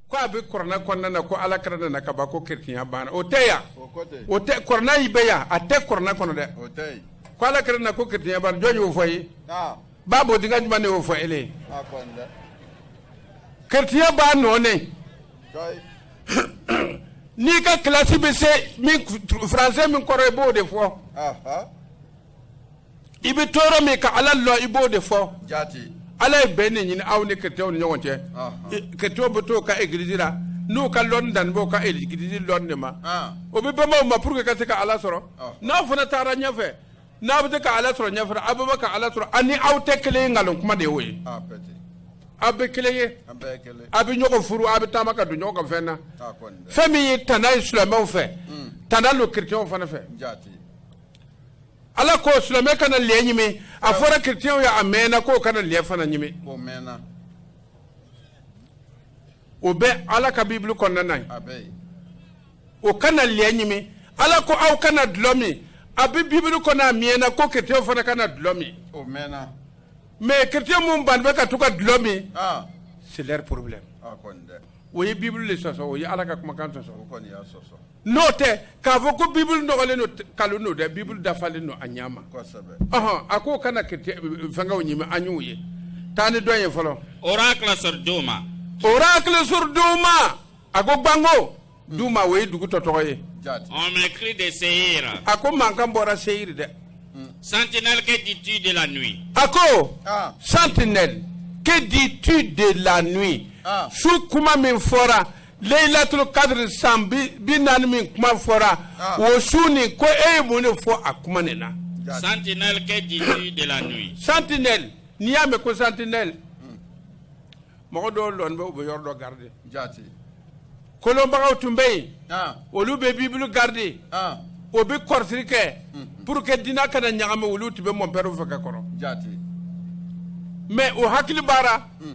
ko a bɛ kurana kɔnɔna na ko ala kira nana ka ban ko keretinya banna o tɛ yan o tɛ kurana y'i bɛ yan a tɛ kurana kɔnɔ dɛ ko ala kira na ko keretinya banna jɔn y'o fɔ ye ba bɔ denkɛ ɲuman de y'o fɔ ele ye keretinya b'a nɔɔnen n'i ka kilasi bɛ se min faransɛ min kɔrɔ i b'o de fɔ i bɛ tɔɔrɔ min ka ala lɔn i b'o de fɔ ala ye bɛn ne ɲini aw ni chrétienw ni ɲɔgɔn cɛ chrétienw bɛ to ka egiliz la n'u ka lɔn dan b'o ka egiliz lɔn de ma o bɛ banba a ma pour que ka se ka ala sɔrɔ n'aw fana taara ɲɛfɛ n'aw bɛ se ka ala sɔrɔ ɲɛfɛ aw bɛ ka ala sɔrɔ ani aw tɛ kelen ye nkalon kuma de y'o ye aw bɛ kelen ye aw bɛ ɲɔgɔn furu aw bɛ taama ka don ɲɔgɔn ka fɛn na fɛn min ye tana ye silamɛw fɛ tana don chrétienw fana fɛ ala ko silamɛ kana lɛ ɲimi a fɔra chrétienw ye a mɛnna k'o kana lɛ fana ɲimi o mɛnna o bɛ ala ka bibulu kɔnɔna na ye a bɛ yen o kana lɛ ɲimi ala ko aw kana dulɔ min a bɛ bibulu kɔnɔ a mɛnna ko chrétienw fana kana dulɔ min o mɛnna mais chrétien minnu banni bɛ ka to ka dulɔ min aa c'est leur problème a kɔni dɛ o ye bibulu de sɔsɔ o ye ala ka kumakan sɔsɔ o kɔni y'a sɔsɔ N'o tɛ k'a fɔ ko Bible nɔgɔlen don nkalon don dɛ Bible dafalen don a ɲɛ ma, kosɛbɛ, ɔhɔ, a k'o kana chretien fɛnkɛw ɲimi an y'u ye, taa ni dɔ ye fɔlɔ, oracle sur Douma, oracle sur Douma, a ko banko, Douma o ye dugu dɔ tɔgɔ ye, Jaati, on me crie de Seïr, a ko mankan bɔra Seïr dɛ, sentinelle que dis-tu de la nuit, a ko ah, sentinelle que dis-tu de la nuit Ah. su kuma min fɔra leyilatul kadiri san bi bi naani min kuma fɔra ah. o su nin ko e ye mun de fɔ a kuma nin na. sentinelle que dis-tu de la nuit. sentinelle n'i y'a mɛn ko sentinelle hmm. mɔgɔ dɔw lɔni bɛ u bɛ yɔrɔ dɔ garide. jaati. kolɔnbagaw tun bɛ yen. Ah. olu bɛ bibulu garide. Ah. o bɛ kɔrɔsiri kɛ. Hmm. pour que diina kana ɲagami olu tun bɛ mɔnpɛriw fɛ ka kɔrɔ. jaati. mais o hakili b'a ra. Hmm.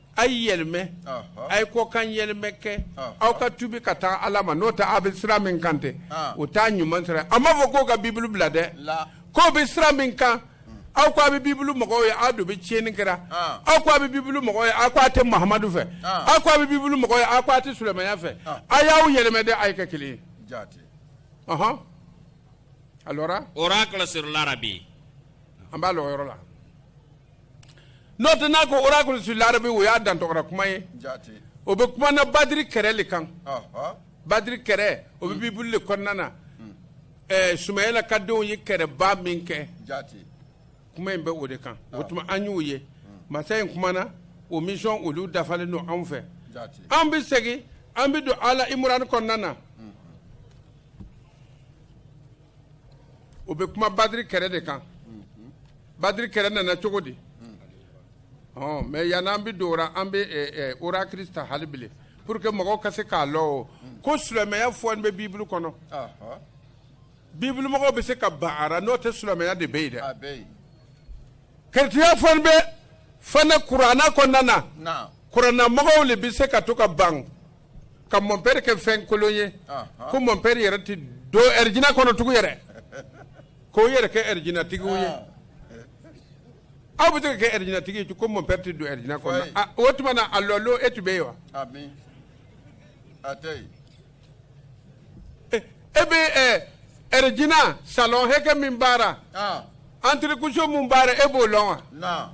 a ye yɛlɛmɛ a ye kɔkan yɛlɛmɛ kɛ aw ka tubi ka taa ala ma n'o tɛ aw bɛ sira min kan tɛ o t'a ɲuman sira a m'a fɔ k'o ka bibulu bila dɛ k'o bɛ sira min kan aw ko a bɛ bibulu mɔgɔw ye aw de bɛ tiɲɛni kɛra aw ko a bɛ bibulu mɔgɔw ye aw ko a tɛ mahamadu fɛ aw ko a bɛ bibulu mɔgɔw ye aw ko a tɛ sulamaya fɛ a y'aw yɛlɛmɛ dɛ a ye kɛ kelen ye ɔhɔn alors oracle sur l'Arabie an b'a lɔ o yɔrɔ la n'o tɛ n'a ko oracle sur l'Arabie o y'a dantɔra kuma ye o bɛ kuma na badiri kɛrɛ de kan badiri kɛrɛ o bɛ bibulu de kɔnɔna na hmm. sumayila ka denw ye kɛrɛba min kɛ kuma in bɛ o de kan o tuma an y'a ye hmm. masa in kumana o misɔn olu dafalen don anw fɛ an bɛ segin an bɛ don ala imurani kɔnɔna na o bɛ kuma badiri kɛrɛ de kan badiri kɛrɛ nana cogo di mais yann'an bɛ don an bɛ o ra kirista halibele pour que mɔgɔw ka se k'a lɔn ko silamɛya fɔ bɛ bibulu kɔnɔ bibulumɔgɔ bɛ se ka ban a ra n'o tɛ silamɛya de bɛ yen dɛ keretiyɛnya fɔ bɛ fana kuranɛ kɔnɔna na kuranɛmɔgɔ de bɛ se ka to ka ban ka mɔnpɛri kɛ fɛn kolon ye ko mɔnpɛri yɛrɛ tɛ don ɛrɛjina kɔnɔ tugu yɛrɛ k'o yɛrɛ kɛ ɛrɛjinatigiw ye aw bɛ se ka kɛ ɛrɛjinatigi ko mɔnpɛri tɛ don ɛrɛjina kɔnɔ o tuma na a lɔ lon e tun bɛ yen wa e bɛ ɛrɛjina salɔn hakɛ min b'a ra entrer-coucher min b'a ra e b'o lɔn wa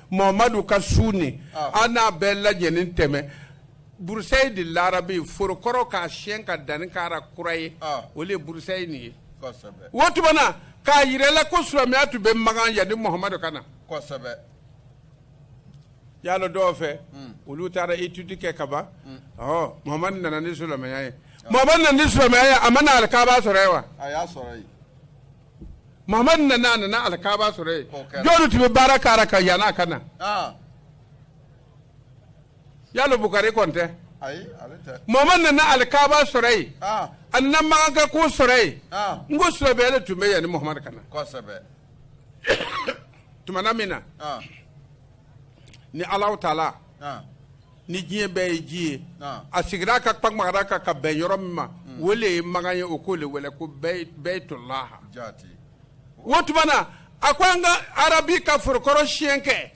muhamadu ka sunɛ ah. an n'a bɛɛ lajɛlen tɛmɛ broussailles de l'Arabie foro kɔrɔ k'a siyɛn ka danni k'a ra kura ye ah. o de ye broussailles nin ye o tuma na k'a yira la ko silamɛya tun bɛ magan yanni muhamadu ka na y'a lɔn dɔw fɛ hmm. olu taara etudi kɛ ka ban hmm. ɔhɔ muhamadu nana ni silamɛya ye ah. muhamadu nana ni silamɛya ye a ma na alikaba sɔrɔ yen wa a y'a sɔrɔ yen mamadu nana a nana alikaba sɔrɔ yen K'o kɛra. jɔnni tun bɛ baara k'a ra ka yann'a ka na aa yalo bukari kɔni tɛ ayi ale tɛ mamadu nana alikaba sɔrɔ yen aa a nana makanka ko sɔrɔ yen aa n ko sɔbɛ de tun bɛ yanni muhamadu ka na kosɛbɛ tumana min na aa ni alahu taala aa ni diɲɛ bɛɛ ye ji ye a sigira a ka kumara kan ka bɛn yɔrɔ min ma o le ye makan ye o k'o le wele ko bɛyitolaha o tuma na a ko an ka arabi ka foro kɔrɔ siyɛn kɛ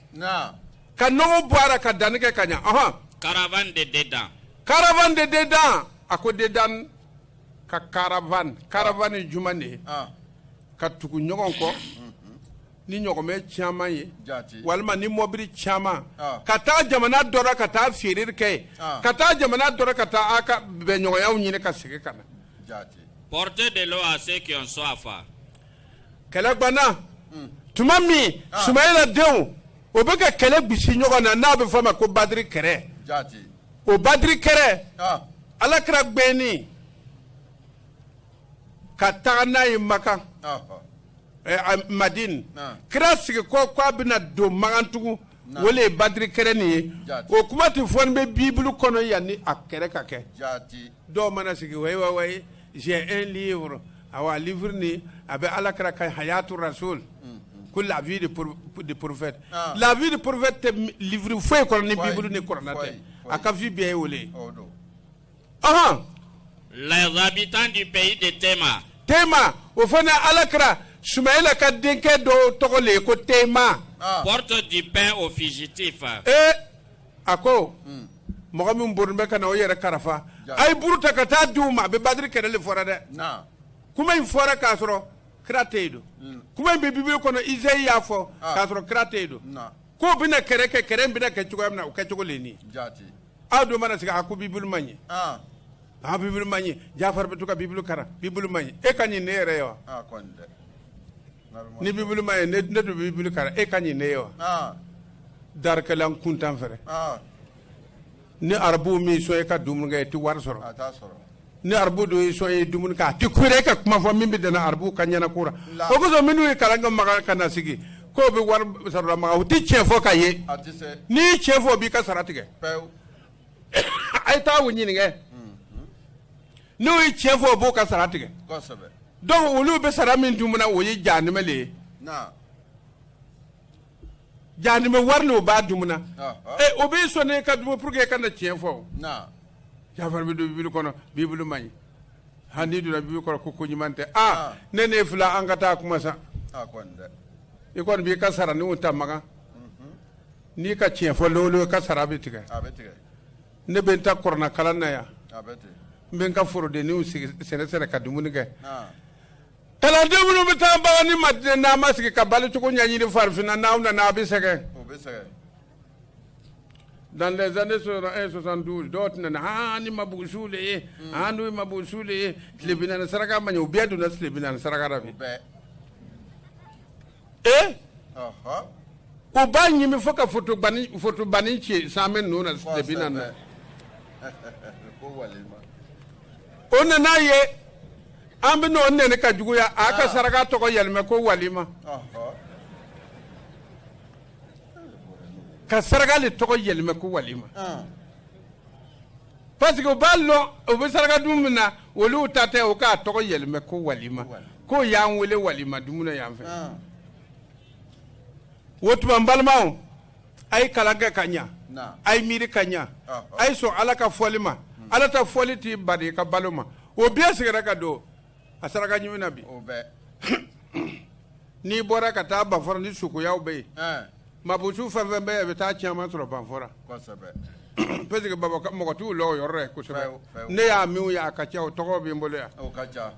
ka nɔgɔ bɔ a ra ka danni kɛ ka ɲɛ ɔhɔn karavan de dedan karavan de dedan a ko dedan ka karavan karavan ye juman de ye ka tugu ɲɔgɔn kɔ ni ɲɔgɔmɛ caman ye walima ni mɔbili caman ka taa jamana dɔ ra ka taa feereri kɛ ka taa jamana dɔ ra ka taa a ka bɛnɲɔgɔnyaw ɲini ka segin ka na pte de a se a fa kɛlɛ gbana tuma min sumayla denw o bɛ ka kɛlɛ gbisi ɲɔgɔn na n'a bɛ f'a ma ko badri kɛrɛ o badri kɛrɛ ala kira gbɛnni ka taga n'a ye makan madinɛ kira sigi ko k' a bɛna don makan tugu o ye badri kɛlɛ nin ye o kuma de fɔlen bɛ bibulu kɔnɔ yanni a kɛlɛ ka kɛ dɔw mana sigi wa j'ai un livre a bɛ ala kira ka hayatu rasul ko la vie de prophète la vie de prophète tɛ livre foyi kɔnɔ ni bibulu ni kuranɛ tɛ a ka vie bɛɛ ye o le ɔhɔn. les habitants du pays de tema. tema o fana ala kira sumayila ka denkɛ dɔ tɔgɔ le ye ko tema. Ah. portent du pain aux fugitifs. ee eh, a ko. Hmm. mɔgɔ min bori bɛ ka na o yɛrɛ karafa a ye buru ta ka taa di u ma n bɛ badiri kɛlɛ de fɔra dɛ kuma in fɔra k'a sɔrɔ kira tɛ yen don mm. kuma in bɛ bibulu kɔnɔ izayi y'a fɔ ah. k'a sɔrɔ kira tɛ yen don k'o bɛna kɛrɛ kɛ kɛrɛ in bɛna kɛ cogoya min na o kɛcogo le ni a dɔw mana sigi a ko bibulu man ɲi Ah, a bibulu man ɲi jafari bɛ to ka bibulu karan bibulu man ɲi e ka ɲi ne yɛrɛ ye wa ah, kɔni dɛ. Nalima. ni bibulu man ɲi ne ne don bibulu karan e ka ɲi ne ye wa Ah, darikɛla n kuntan fɛrɛ ah, ni arabuw m'i sɔn e ka dumuni kɛ i tɛ wari sɔrɔ a t'a sɔrɔ. ni arabu don y'i sɔn i ye dumuni kɛ a tɛ kure ka kuma fɔ min bɛ dɛna arabu ka ɲɛna kura o kosɔn minnu ye kalan kɛ makan ka na sigi k'u bɛ wari sarala makan u tɛ tiɲɛ fɔ ka ye n'i ye tiɲɛ fɔ u b'i ka sara tigɛ a ye taa u ɲininka n'u ye tiɲɛ fɔ o b'o ka sara tigɛ donc olu bɛ sara min dun o ye jahanama de ye Jahanama wari o b'a dun o b'i sɔn i ka dumu pour que i kana tiɲɛ fɔ jafari bɛ don bibulu kɔnɔ bibulu man ɲi hali donna bibulu kɔnɔ ko ko ɲuman tɛ a ni ne fila an ka taa kuma sa i kɔni b'i ka sara nin ta makan n'i ka tiɲɛ fɔ ka sara bɛ tigɛ ne bɛ n ta kuranɛkalan na yan n bɛ n ka forodenninw sɛnɛsɛnɛ ka dumuni kɛ kalanden minnu bɛ taa makan ni madinɛ n'aw ma sigi ka balocogo ɲɛɲini farafinna n'aw nana aw bɛ sɛgɛn dans les années 72 dɔw tun nana aa ni mabuusuw de ye aa n'u ye mabuusuw de ye tile bi naani saraka man ɲi u bɛɛ donna tile bi naani saraka la bi ee u b'a ɲimi fo ka fotobanni ci san bɛ ninnu na depi na dɛ o nana ye an bɛ n'o nɛni ka juguya a ka saraka tɔgɔ yɛlɛmɛ ko walima ka saraka de tɔgɔ yɛlɛmɛ ko walima Parce que u b'a dɔn u bɛ saraka dun min na olu ta tɛ u k'a tɔgɔ yɛlɛmɛ ko walima ko y'an weele walima dumuni na yan fɛ o tuma balimaw a ye kalan kɛ ka ɲɛ a ye miiri ka ɲɛ a ye sɔn ala ka fɔli ma ala ta fɔli t'i bali ka balo ma o bi sigira ka don a saraka ɲimi na bi n'i bɔra ka taa banfɔra nin suguyaw bɛ yen Mabusu fɛn fɛn bɛɛ bɛ taa caman sɔrɔ banfɔra parce que là-bas mɔgɔ t'u lɔn yɔrɔ kosɛbɛ ne y'a min ye a ka ca o tɔgɔ bɛ n bolo yan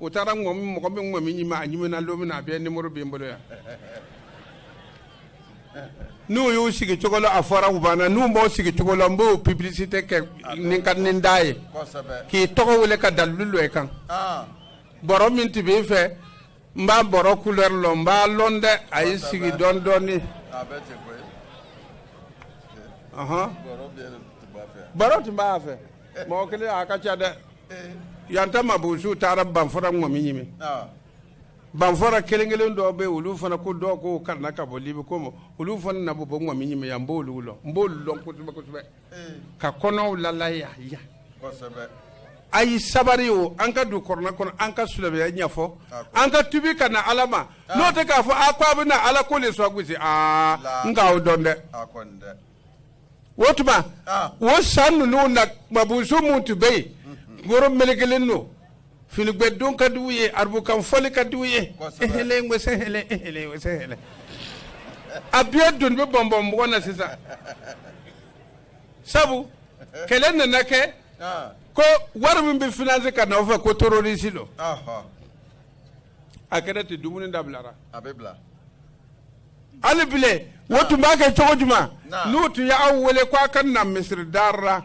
u taara mɔgɔ min ka ŋɔmi ɲimi don min a bɛɛ nimɔrɔ bɛ n bolo yan n'u y'u sigi cogo la a fɔra u banna n'u b'o sigi cogo la n b'o publicité kɛ ni ka ni da ye k'i tɔgɔ wele ka dalu dɔ i kan bɔrɔ min tun bɛ e fɛ n b'a bɔrɔ couleur lɔn n b'a lɔn dɛ a ye sigi dɔɔni dɔɔni bɔrɔ tun b'a fɛ mɔgɔ kelen a ka ca dɛ yan ta mabusuw taara banfɔra ŋɔmi ɲimi banfɔra kelen kelen dɔw bɛ olu fana ko dɔw k'u karanna ka bɔ libi comme olu fana na bɔbɔ ŋɔmi ɲimi yan n b'olu lɔn n b'olu lɔn kosɛbɛ kosɛbɛ ka kɔnɔw lala a ye sabari o an ka don kurana kɔnɔ an ka silamɛya ɲɛfɔ an ka tubi ka na ala ma n'o tɛ k'a fɔ a ko a bɛ na ala ko de sɔn gosi aa n k'aw dɔn dɛ o tuma o san ninnu na mabusu minnu tun bɛ yen woro mele kelen don finigwɛ don ka di u ye arabukan fɔli ka di u ye ahlan wa sahlan ahlan wa sahlan a bɛɛ doni bɛ bɔnbɔn mɔgɔ na sisan sabu kɛlɛ nana kɛ ko wari min bɛ finance ka na o fɛ ko terroriste don a kɛra ten dumuni dabilara a bɛ bila hali bile o tun b'a kɛ cogo jumɛn n'u tun ye aw wele ko a ka na misiri da ra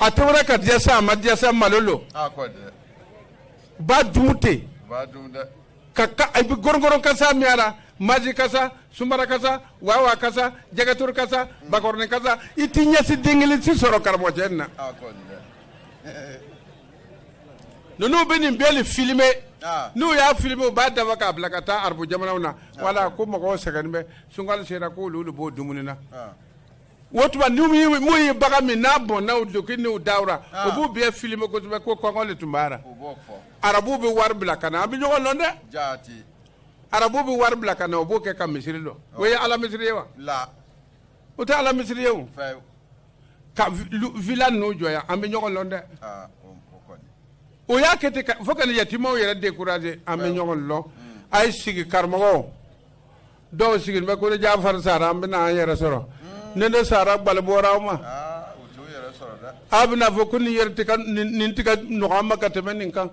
a tobira ka diya sa a ma diya sa malo lo a kɔ dɛ b'a dun ten b'a dun dɛ ka ka a bɛ gɔrɔngɔrɔn kasa min a la maji kasa sunbara kasa wawa kasa jɛgɛturu kasa bakɔrɔni kasa i t'i ɲɛsin den kelen si sɔrɔ karamɔgɔcɛ nin na a kɔ dɛ ninnu bɛ nin bɛɛ le filime Ah. n'u y'a filime u b'a dafa k'a bila ka taa arabu jamanaw na wala ko mɔgɔw sɛgɛnnen bɛ sunkalo sera k'olu de b'o dumuni na Ah. o tuma n'u ye mun ye bagan min n'a bɔnna o duloki n'u dawura o b'u bɛɛ filime kosɛbɛ ko kɔngɔ de tun b'a la arabuw bɛ wari bila ka na an bɛ ɲɔgɔn dɔn dɛ arabu bɛ wari bila ka na o b'o kɛ ka misiri lɔ o ye ala misiri ye wa o tɛ ala misiri ye o ka villa ninnu jɔ yan an bɛ ɲɔgɔn dɔn dɛ o y'a kɛ ten fo ka yatimaw yɛrɛ décourager an bɛ ɲɔgɔn dɔn a ye sigi karamɔgɔ dɔw sigilen bɛ ko ni jafari sara an bɛna an yɛrɛ sɔrɔ ni ne sara gbalo bɔra aw ma aw bɛna fɔ ko nin yɛrɛ tun ka nin tun ka nɔgɔ an ma ka tɛmɛ nin kan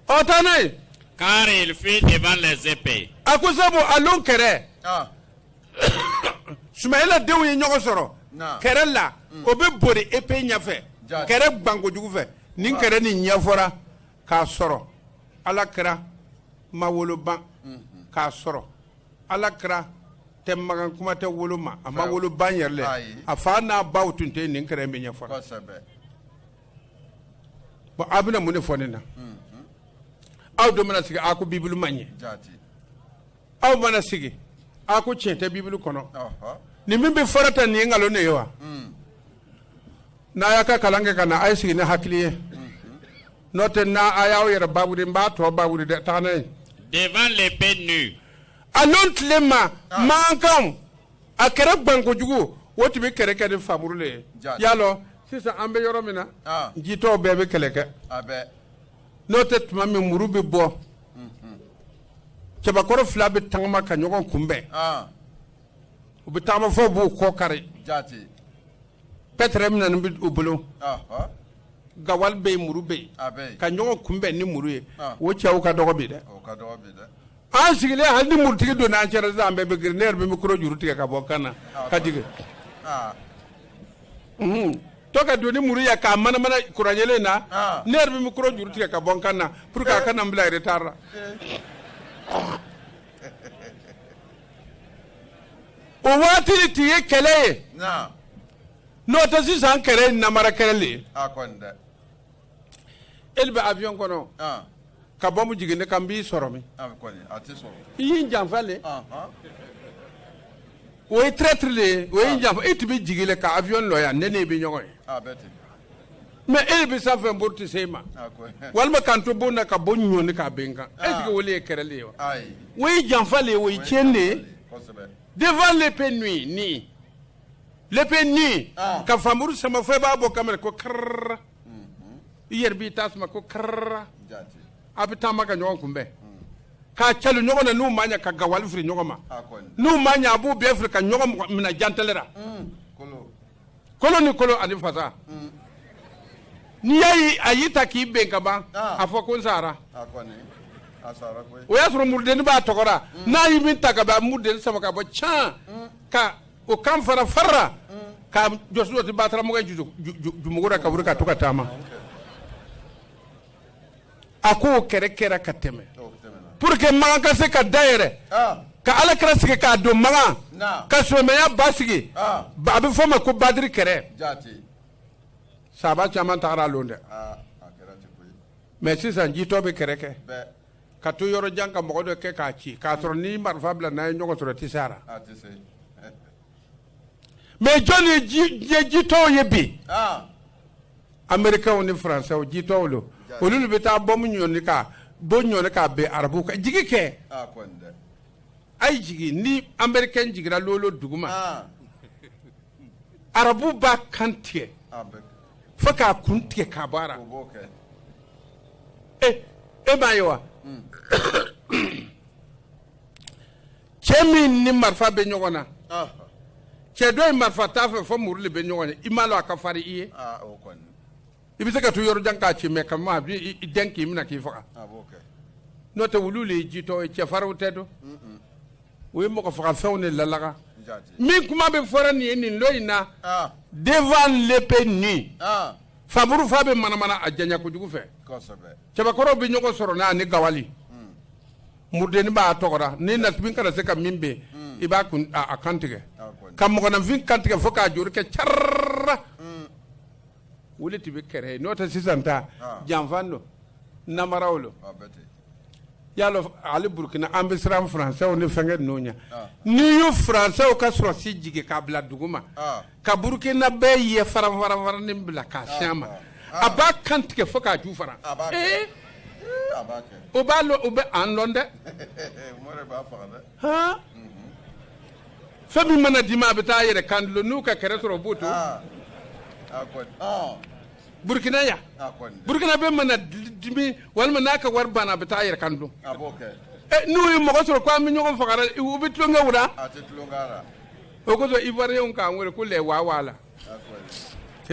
ɔ taa n'a ye car ils fuient devant les épées a ko sabu a lɔn kɛrɛ sumayila denw ye ɲɔgɔn sɔrɔ kɛrɛ la o bɛ bori épée ɲɛfɛ kɛrɛ gbankojugu fɛ nin kɛrɛ nin ɲɛfɔra k'a sɔrɔ ala kira ma wolo ban k'a sɔrɔ ala kira tɛ makan kuma tɛ wolo ma a ma wolo ban yɛrɛ le a fa n'a baw tun tɛ nin kɛrɛ nin ɲɛfɔra aw bɛna mun de fɔ nin na aw dɔ mana sigi a ko bibulu man ɲɛ aw mana sigi a ko tiɲɛ tɛ bibulu kɔnɔ nin min bɛ fɔra tan nin ye nkalon de ye wa n'a y'a ka kalan kɛ ka na a ye sigi ni hakili ye n'o tɛ n'a a y'aw yɛrɛ bawuri n b'a tɔ bawuri dɛ taa n'a ye devant l'épée nue. a n'o tile ma mankan a kɛrɛ gbankojugu o tun bɛ kɛlɛ kɛ ni fanmuru de ye i y'a lɔn sisan an bɛ yɔrɔ min na Ah. jitɔw bɛɛ bɛ kɛlɛ kɛ n'o tɛ tuma min muru bɛ bɔ cɛbakɔrɔ fila bɛ tagama ka ɲɔgɔn kunbɛn ah u bɛ taama fo b'u kɔ kari pɛtɛrɛ min bɛ u bolo gawali bɛ yen muru bɛ yen ka ɲɔgɔn kunbɛn ni muru ye o cɛw ka dɔgɔ bi dɛ an sigilen hali ni murutigi donna an cɛra an bɛɛ bɛ girin ne yɛrɛ bɛ micro juru tigɛ ka bɔ n kan na k'a tigi to ka don ni muru ye k'a manamana kuran yeelen na ne yɛrɛ bɛ micro juru tigɛ ka bɔ n kan na pour que a kana n bila retard la o waati de tun ye kɛlɛ ye n'o tɛ sisan kɛlɛ ye namara kɛlɛ de ye e bɛ avion kɔnɔ ka bɔmu jigin ne kan n b'i sɔrɔ min i ye n janfa le o ye traître de ye o ye janfa e tun bɛ jigin le ka avion lɔ yan ne n'e bɛ ɲɔgɔn ye mais e bɛ san fɛ n bori tɛ se e ma walima ka n to bon na ka bon ɲɔni k'a ben n kan e jigi o le ye kɛrɛ le ye wa o ye janfa le ye o ye tiɲɛ de ye devant l'épée nue ni l'épée nue ka fanmuru sama fo e b'a bɔ kamera ko karara i yɛrɛ b'i ta sama ko karara a bɛ taama ka ɲɔgɔn kunbɛn k'a calo ɲɔgɔn na n'u ma ɲa ka gawali firi ɲɔgɔn ma n'u ma ɲa a b'u bɛɛ firi ka ɲɔgɔn minɛ jantelera kolo ni kolo ani fasa n'i y'a ye a y'i ta k'i ben ka ban a fɔ ko n sara o y'a sɔrɔ murudennin b'a tɔgɔ ra n'a ye min ta ka ban murudennin sama ka bɔ can ka o kan fara farara ka jɔsi dɔ ti bataramɔgɔ jumugu ra ka wuli ka to ka taama a ko kɛrɛ kɛra ka tɛmɛ pour que makan ka se ka dayɛrɛ ka ala kira sigi k'a don makan ka silamɛya ba sigi a bɛ fɔ o ma ko badiri kɛrɛ sahaba caman tagara lon dɛ mais sisan jitɔ bɛ kɛrɛ kɛ ka to yɔrɔ jan ka mugu dɔ kɛ k'a ci k'a sɔrɔ ni marifa bila n'a ye ɲɔgɔn sɔrɔ tɛ se a la mais jɔn ye jitɔw ye bi amerikɛw ni faransɛw jitɔw lo olu le bɛ taa bɔnbu ɲɔni k'a ben arabu kan jigi kɛ a ye jigi ni amerikɛn jiginra lon o lon dugu ma arabu b'a kan tigɛ fo k'a kun tigɛ ka bɔ a ra e e b'a ye wa cɛ min ni marifa bɛ ɲɔgɔn na cɛ dɔ ye marifa t'a fɛ fo muru de bɛ ɲɔgɔn ye i m'a dɔn a ka farin i ye i bɛ se ka to yɔrɔ jan k'a ci mais ka ma a b'i i dɛn k'i minɛ k'i faga n'o tɛ olu de ye jitɔ ye cɛfarinw tɛ dɔn u ye mɔgɔ faga fɛnw de lalaga min kuma bɛ fɔra nin ye nin dɔ in na devant l'épée nue fanmuru fa bɛ manamana a janya kojugu fɛ cɛbakɔrɔw bɛ ɲɔgɔn sɔrɔ n'a ni gawali murudenni b'a tɔgɔ ra ni na kana se ka min bɛ i b'a kun a kan tigɛ ka mɔgɔninfin kan tigɛ fo k'a juru kɛ ca o de tun bɛ kɛrɛ ye n'o tɛ sisan ta janfa don namaraw don y'a dɔn ali burukina an bɛ siran faransɛw ni fɛnkɛ ninnu ɲɛ n'i y'u faransɛw ka sɔrɔsi jigin k'a bila dugu ma ka burukina bɛɛ ye faranfaranfaranin bila k'a ah, siyɛn ma ah. a b'a kan tigɛ fo k'a ju fara eh? o b'a lɔ o bɛ an lɔn dɛ mhm. fɛn min mana dimi a bɛ taa a yɛrɛ kan dulon n'u ka kɛrɛ sɔrɔ o b'o to ah. burukina yan burukinabɛ mana dimi walima n'a ka wari banna a bɛ taa a yɛrɛ kan dulon eh, n'u ye mɔgɔ sɔrɔ ko an bɛ ɲɔgɔn faga u bɛ tulonkɛ o la O kosɔn iwuariyɛnw k'an weele ko les wawala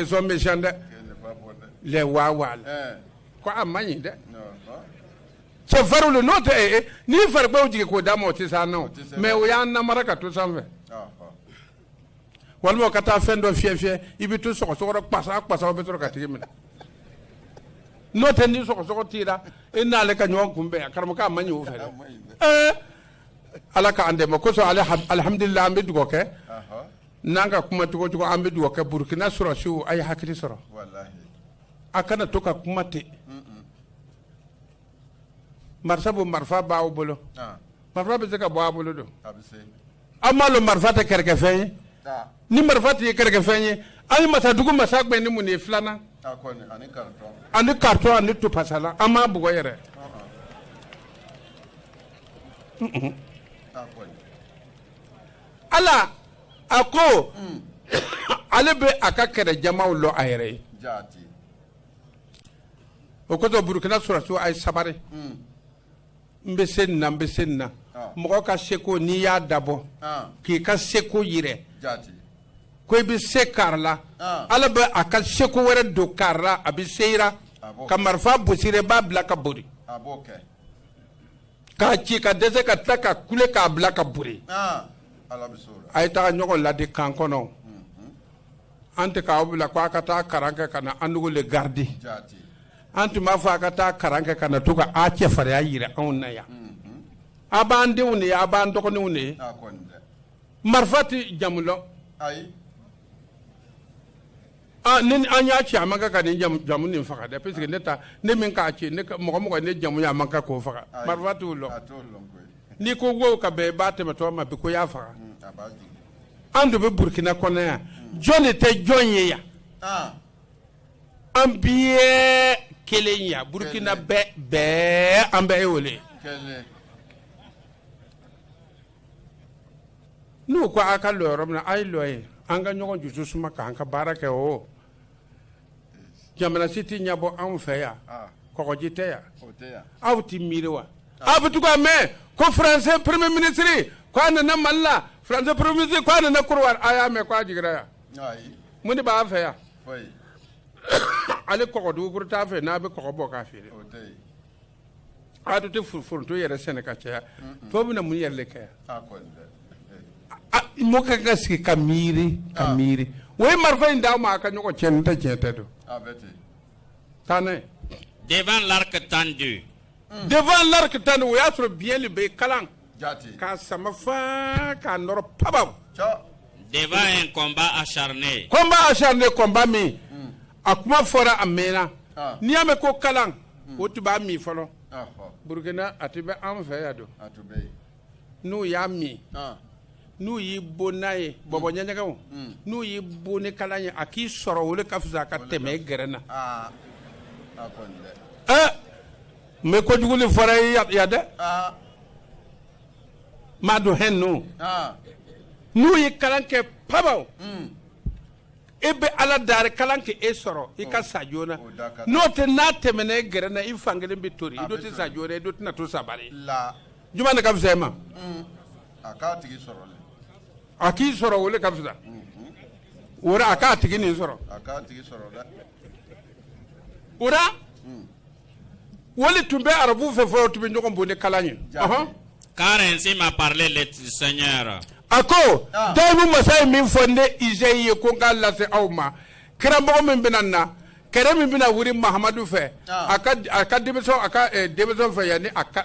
sont méchants dɛ ko a man ɲi dɛ cɛfarin don n'o tɛ ni faransɛw jigin k'o da ma o tɛ se an na mais o y'an namara ka to sanfɛ walima ka taa fɛn dɔ fiyɛ fiyɛ i bɛ to sɔgɔsɔgɔ ra pasa pasa bɛ sɔrɔ k'a tigi minɛ n'o tɛ ni sɔgɔsɔgɔ t'i ra i n'ale ka ɲɔgɔn kunbɛn a karamɔgɔ man ɲi o fɛ ala k'an dɛmɛ o kosɔn alihamdulila an bɛ dugawu kɛ n'an ka kuma cogo cogo an bɛ dugawu kɛ burukina sɔrɔsiw a ye hakili sɔrɔ a kana to ka kuma ten marifa bɔ marifa b'aw bolo marifa bɛ se ka bɔ a bolo don an b'a dɔn marifa tɛ kɛrɛkɛfɛn ye ni marifa tun ye kɛrɛkɛfɛn ye a ye masadugu masa gbɛn ni mun de ye filannan ani karitɔn ani topasalan a m'a bugɔ yɛrɛ ala a ko ale bɛ a ka kɛlɛ jamaw lɔ a yɛrɛ ye o kosɔn burukina sɔrasiw a ye sabari n bɛ se nin na n bɛ se nin na ah. mɔgɔ ka seko n'i y'a dabɔ ah. k'i ka seko yirɛ ko i bɛ se kari la ah. ala bɛ a ka seko wɛrɛ don kari la a bɛ se i ra ka marifa bɔsi i ra b'a bila ka bori k'a ci ka dɛsɛ ka tila ka kule k'a bila ka bori a ye taga ɲɔgɔn ladi kan kɔnɔ. an tun k'aw bila ko a ka taa kalan kɛ ka na an dugu le garidi an tun m'a fɔ a ka taa kalan kɛ ka na to ka a cɛfariya yira an na yan a b'an denw de ye a b'an dɔgɔninw de ye marifa tɛ jamu lɔn ni an y'a ci a man kan ka nin jamu nin faga dɛ parce que ne taa ne min k'a ci mɔgɔ o mɔgɔ ye ne jamu ye a man kan k'o faga marifa t'o lɔn n'i kungo ka bɛn i ba tɛmɛtɔ ma bi ko y'a faga an de bɛ burukina kɔnɔ yan jɔn de tɛ jɔn ye yan an bɛɛ kelen yan burukinabɛ bɛɛ an bɛ aw wele n'u ko a ka lɔ yɔrɔ min na a ye lɔ yen an ka ɲɔgɔn jusu suma k'an ka baara kɛ o jamana si tɛ ɲɛbɔ anw fɛ yan ah. kɔgɔji tɛ yan aw tɛ miiri wa ah. aw bɛ to ka mɛn ko français premier ministre ko a nana mali la français premier ministre ko a nana kɔdiwari a y'a mɛn ko a jigira yan mun de b'an fɛ yan hali kɔgɔ dugukolo t'an fɛ n'an bɛ kɔgɔ bɔ k'a feere an dun tɛ foronto yɛrɛ sɛnɛ ka caya tɔw bɛna mun yɛrɛ de kɛ yan ah, ah, mɔgɔ ka kan ka sigi ka miiri ka ah. miiri o ye marifa in d'aw ma a ka ɲɔgɔn cɛ nin tɛ tiɲɛ tɛ don taa n'a ye devant l'arc tendu hmm. devant l'arc tendu o y'a sɔrɔ biɲɛ de bɛ kalan k'a sama faa k'a nɔrɔ pabaw devant un combat acharné combat acharné combat min hmm. a kuma fɔra a mɛnna ah. n'i y'a mɛn ko kalan hmm. o tun b'a min fɔlɔ ah, ah. burukina a tun bɛ an fɛ yan don n'u y'a min n'u y'i bon n'a ye hmm. bɔbɔ ɲɛɲɛgɛw hmm. n'u y'i bon ni kalan ye a k'i sɔrɔ o le ka fisa ka tɛmɛ i gɛrɛn na eh, n bɛ kojugu nin fɔra a ye yan dɛ m'a dɔn hɛn ninnu n'u ye kalan kɛ pabaw e bɛ ala dari kalan ka e sɔrɔ i ka sa joona n'o tɛ n'a tɛmɛna e gɛrɛ na i fan kelen bɛ tori i do tɛ sa joona i do tɛna to sabari juma de ka fisa e ma mm. a k'a tigi sɔrɔ a k'i sɔrɔ o le ka fisa mm-hmm. o a k'a tigi nin sɔrɔ a k'a tigi sɔrɔ dɛ o mm. O le tun bɛ arabu fɛ fɔlɔ tun bɛ ɲɔgɔn bon ni kalan ye. Car ainsi m'a parlé le Seigneur a ko daimu masa ye min fɔ ne Isayi ye ko n k'a lase aw ma, kiramɔgɔ min bɛna na, kɛlɛ min bɛna wuli Mahamadu fɛ, a ka a ka denmisɛnw a ka denmisɛnw fɛ yanni a ka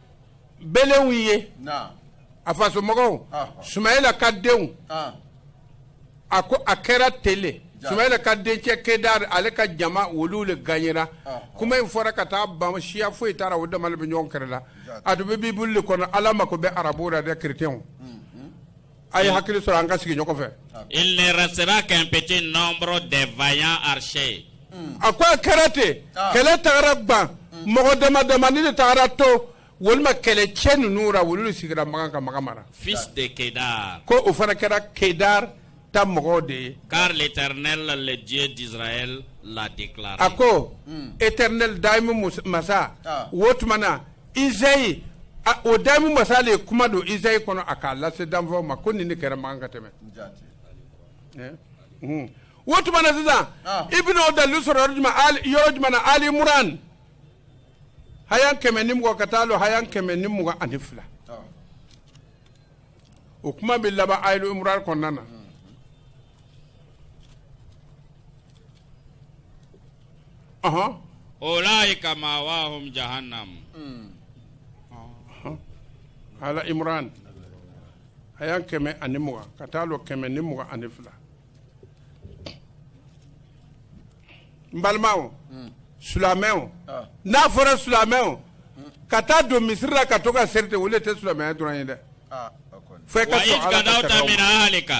belenw ye a fasomɔgɔw sumayila ka denw a ko a kɛra ten le sumayila ka dencɛ kedar ale ka jama olu le ganyera kuma in fɔra ka taa ban siya foyi t'a ra o dama le bɛ ɲɔgɔn kɛrɛ la a dun bɛ bibulu le kɔnɔ ala mako bɛ arabu ra dɛ kerecɛnw A ye hakili sɔrɔ an ka sigi ɲɔgɔn fɛ il ne restera qu'un petit nombre des vaillants archers a ko a kɛra ten kɛlɛ taara ban mɔgɔ dama damani de taara to olu ma kɛlɛcɛ ninnu ra olu le sigira Makan ka Makan mara fils de Kedar ko o fana kɛra kedar ta mɔgɔw de ye car l'éternel le Dieu d'Israël l'a déclaré a ko éternel daimu masa o tuma na izayi o daimu masa le ye kuma don izayi kɔnɔ a k'a lase danfɛnw ma ko nin de kɛra Makan ka tɛmɛ eh? hmm. o tuma na sisan ah. i bɛna o dalilu sɔrɔ yɔrɔ jumɛn yɔrɔ jumɛn na Ali Imran hayan kɛmɛ ni mugan ka taa lɔ hayan kɛmɛ ni mugan ani fila ah. o kuma bɛ laban Ali Imran kɔnɔna na. Hmm. Aha. Ulaika mawahum jahannam. Hmm. Aha. Ali Imran. Ayan kɛmɛ ani mugan ka taa lɔ kɛmɛ ni mugan ani fila. N balimaw. Hmm. Silamɛw. Ah. N'a fɔra silamɛw. Hmm. Ka taa don misiri la ka to ka seri de o le tɛ silamɛya dɔrɔn ye dɛ. Ah, Fo i ka sɔn Ala ka sariyaw ma. Wa iz gadawta min ahlika.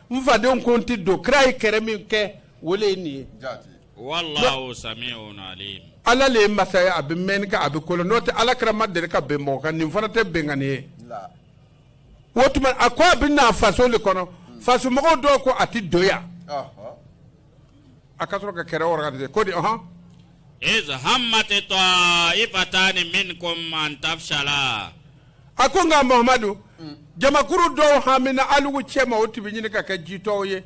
n fadenw ko n tɛ don kira ye kɛrɛ min kɛ o le ye nin ye wallahu sami'un alim ala le ye masa ye a bɛ mɛnni kɛ a bɛ ko lɔn n'o tɛ ala kira ma deri ka ben mɔgɔ kan nin fana tɛ benkanni ye o tuma a ko a bɛ na faso le kɔnɔ fasomɔgɔw dɔw ko a tɛ don yan A ka sɔrɔ ka kɛrɛ organisé ko di hɔn iz hammat taifatani minkum an tafshala a ko nka Mahamadu jamakuru dɔw hamina alugu cɛma o tun bɛ ɲini ka kɛ jitɔw ye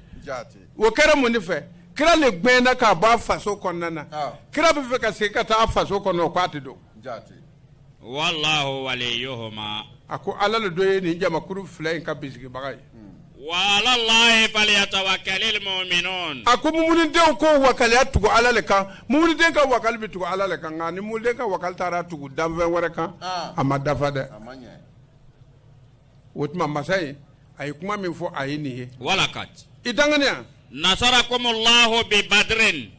o kɛra mun de fɛ kira le gbɛnna ka bɔ a faso kɔnɔna na kira bɛ fɛ ka se ka taa faso kɔnɔ o k'a tɛ don a ko ala de dun ye nin jamakuru fila in ka bisigibaga ye a ko muminidenw k'u wakali tugu ala de kan muminiden ka wakali bɛ tugu ala de kan nka ni muminiden ka wakali taara tugu danfɛn wɛrɛ kan a ma dafa dɛ o tuma masa ye a ye kuma min fɔ a ye nin ye walakadi i danganiya nasarakumu lahu bi badirin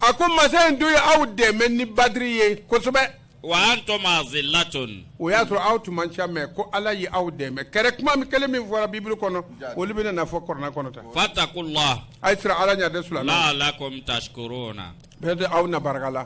a ko masa in dun ye aw dɛmɛ ni badiri ye kosɛbɛ wa antum azilatun o y'a sɔrɔ aw tun man ca mɛ ko ala ye aw dɛmɛ kɛrɛ kuma kelen min fɔra bibiri kɔnɔ olu bɛna na fɔ kɔrana kɔnɔ ta fatakullah a ye siran ala ɲa dɛ sulala la'alakum tashkuruna bɛɛ tɛ aw na barika la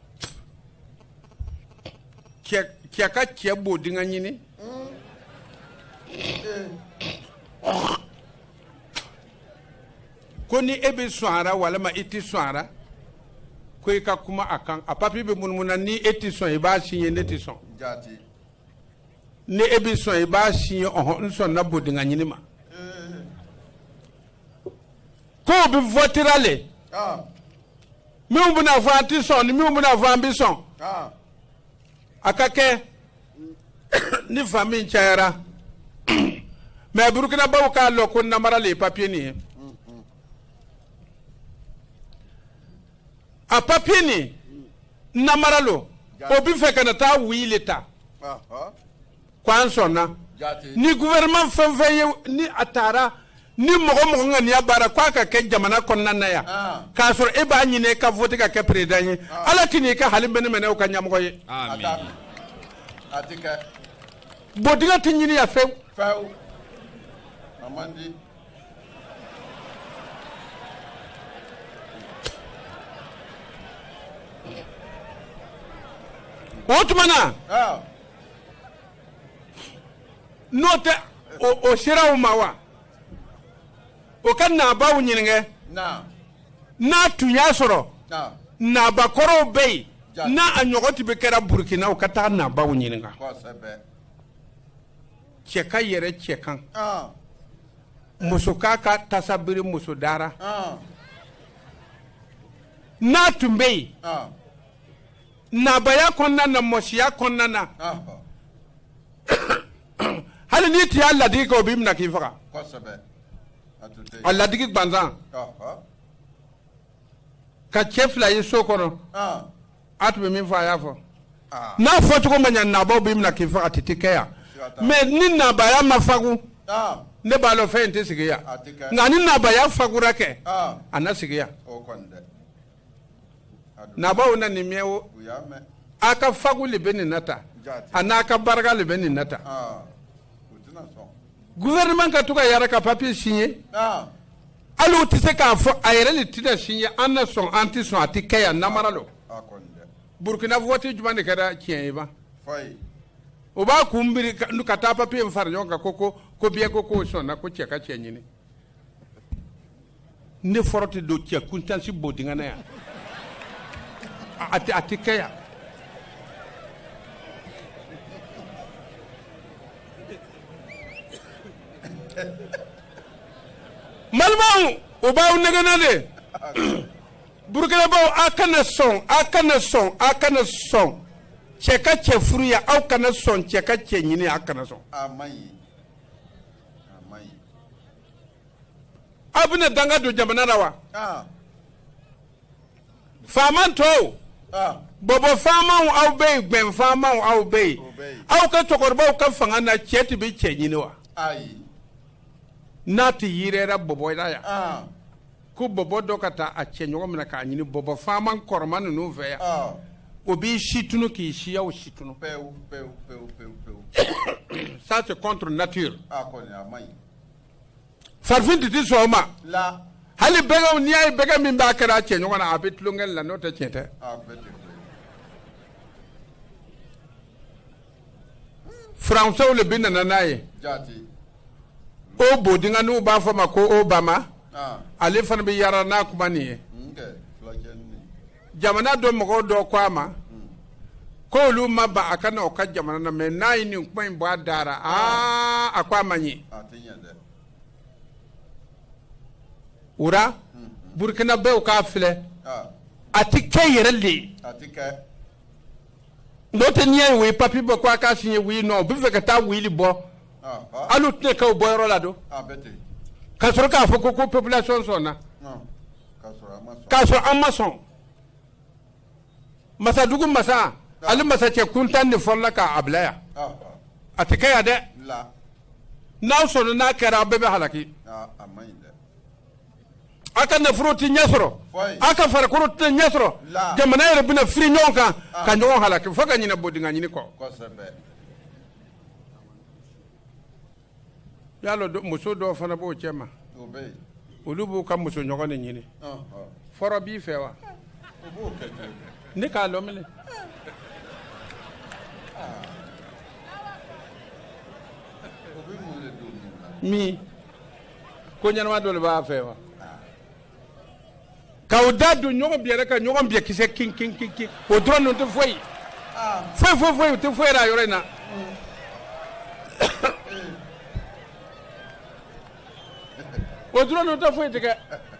cɛ ka cɛ bodinga ɲini ko ni e bɛ sɔn a ra walima i tɛ sɔn a ra ko i ka kuma a kan a papier bɛ munumunu na ni e tɛ sɔn i b'a siɲɛ ne tɛ sɔn ni e bɛ sɔn i b'a siɲɛ ɔhɔn n sɔnna bodiŋa ɲini ma Ko u bɛ voter ra le. Ɔn! Minnu bɛna fɔ an tɛ sɔn ni minnu bɛna fɔ an bɛ sɔn. Ɔn! A ka kɛ ni fan min cayara mais burukinabaw k'a lɔn ko namara le ye papier nin ye. A papier nin namara lo, o bɛ fɛ ka na taa oui le ta. Ɔnhɔn! ko an sɔnna ni gouvernement fɛn fɛn ye ni a taara ni mɔgɔ o mɔgɔ ŋaniya b'a ra ko a ka kɛ jamana kɔnɔna na yan ah. k'a sɔrɔ e b'a ɲini e ka vote ka kɛ président ye ah. ala tɛna i kɛ hali mɛnɛmɛnɛw ka ɲɛmɔgɔ ye bodinga tɛ ɲini yan fewu o tuma na ah. n'o tɛ o sera u ma wa o ka naabaw ɲininka n'a tun y'a sɔrɔ naabakɔrɔw bɛ yen n'a a ɲɔgɔn tun bɛ kɛra burukina u ka taa naabaw ɲininka cɛ ka yɛrɛ cɛ kan muso k'a ka tasa biri muso da ra n'a tun bɛ yen Nabaya kɔnɔna na mɔsiya kɔnɔna na hali n'i tun y'a ladegi kɛ o b'i minɛ k'i faga a ladegi gansan ka cɛ fila ye so kɔnɔ a tun bɛ min fɔ a y'a fɔ n'a fɔ cogo ma ɲɛ nabaw b'i minɛ k'i faga a tun tɛ kɛ yan mais ni nabaya ma fagu ne b'a lɔn fɛn in tɛ sigi yan nka ni nabaya fagura kɛ a na sigi yan nabaw na nin miɛ o a ka fanga le bɛ nin nata a n'a ka barika le bɛ nin nata gouvernement ka to ka yɛrɛ ka papier signer hali u tɛ se k'a fɔ a yɛrɛ le tɛna signer an na sɔn an tɛ sɔn a tɛ kɛ yan namara lo burkina vote jumɛn de kɛra tiɲɛ ye ba o b'a kun biri ka taa papier in fara ɲɔgɔn kan ko ko ko biɲɛ ko k'o sɔnna ko cɛ ka cɛ ɲini ne fɔrɔ tɛ don cɛ kuntan si bodingɛ na yan a tɛ a tɛ kɛ yan malibaw o b'aw nɛgɛn na dɛ burukinabew aw kana sɔn aw kana sɔn aw kana sɔn cɛ ka cɛ furu yan aw kana sɔn cɛ ka cɛ ɲini aw kana sɔn aw bɛna danga don jamana la wa faama tɔw bɔbɔ faamaw aw bɛ yen gbɛn faamaw aw bɛ yen aw ka cɛkɔrɔbaw ka fanga na cɛ tun bɛ cɛ ɲini wa n'a tun yera bɔbɔ la yan ko bɔbɔ dɔ ka taa a cɛ ɲɔgɔn minɛ k'a ɲini bɔbɔ faama kɔrɔma ninnu fɛ yan ah. o b'i si tunu k'i siyaw si tunu pewu pewu pewu pewu pewu ça c'est contre nature ah kɔni a man ɲi farafin tun tɛ sɔn o ma la hali bɛgɛnw n'i y'a ye bɛgɛn min b'a kɛra a cɛ ɲɔgɔn na a bɛ tulonkɛ la n'o tɛ tiɲɛ tɛ ah bɛɛ tɛ Français le bɛ nana n'a ye o bodinga nin u b'a fɔ ma ko Obama ale fana bɛ yaala n'a kuma nin ye jamana dɔ mɔgɔw dɔ ko a ma ko olu ma ban a ka na o ka jamana na mais n'a ye nin kuma in bɔ a da ra aa a ko a man ɲi o la burukinabew k'a filɛ a tɛ kɛ yɛrɛ le n'o tɛ n'i y'a ye o ye papiye bɔ ko a k'a signé oui non u bɛ fɛ ka taa oui le bɔ Ah, ah, hali u tɛna kɛ o bɔyɔrɔ la don ah, bɛɛ ten. k'a sɔrɔ k'a fɔ ko ko population sɔnna Non. K'a sɔrɔ a ma sɔn. k'a sɔrɔ an ma sɔn masadugu masa ale masacɛ kuntan de fɔlɔla k'a bila yan Ah, ah, a tɛ kɛ yan dɛ la. n'aw sɔnna n'a kɛra aw bɛɛ bɛ halaki Ah, a man ɲi dɛ. a ka nafolo tɛ ɲɛ sɔrɔ a ka farikolo tɛ ɲɛ sɔrɔ jamana yɛrɛ bɛna firi ɲɔgɔn kan ah. ka ɲɔgɔn halaki fo ka ɲinɛ bodinga ɲini kɔ y'a lɔn muso dɔw fana b'o cɛma olu b'u ka muso ɲɔgɔn de ɲini ah, ah. fɔrɔ b'i fɛ wa ne k'a lɔ minɛ min ko ɲɛnama dɔ le b'a fɛ wa k'aw da don ɲɔgɔn biyɛ ra ka ɲɔgɔn biyɛ kisɛ kin kin kin kin o dɔrɔn ninnu tɛ foyi foyi foyi foyi u tɛ foyi yɛrɛ a yɔrɔ in na o dɔrɔn ninnu tɛ foyi tigɛ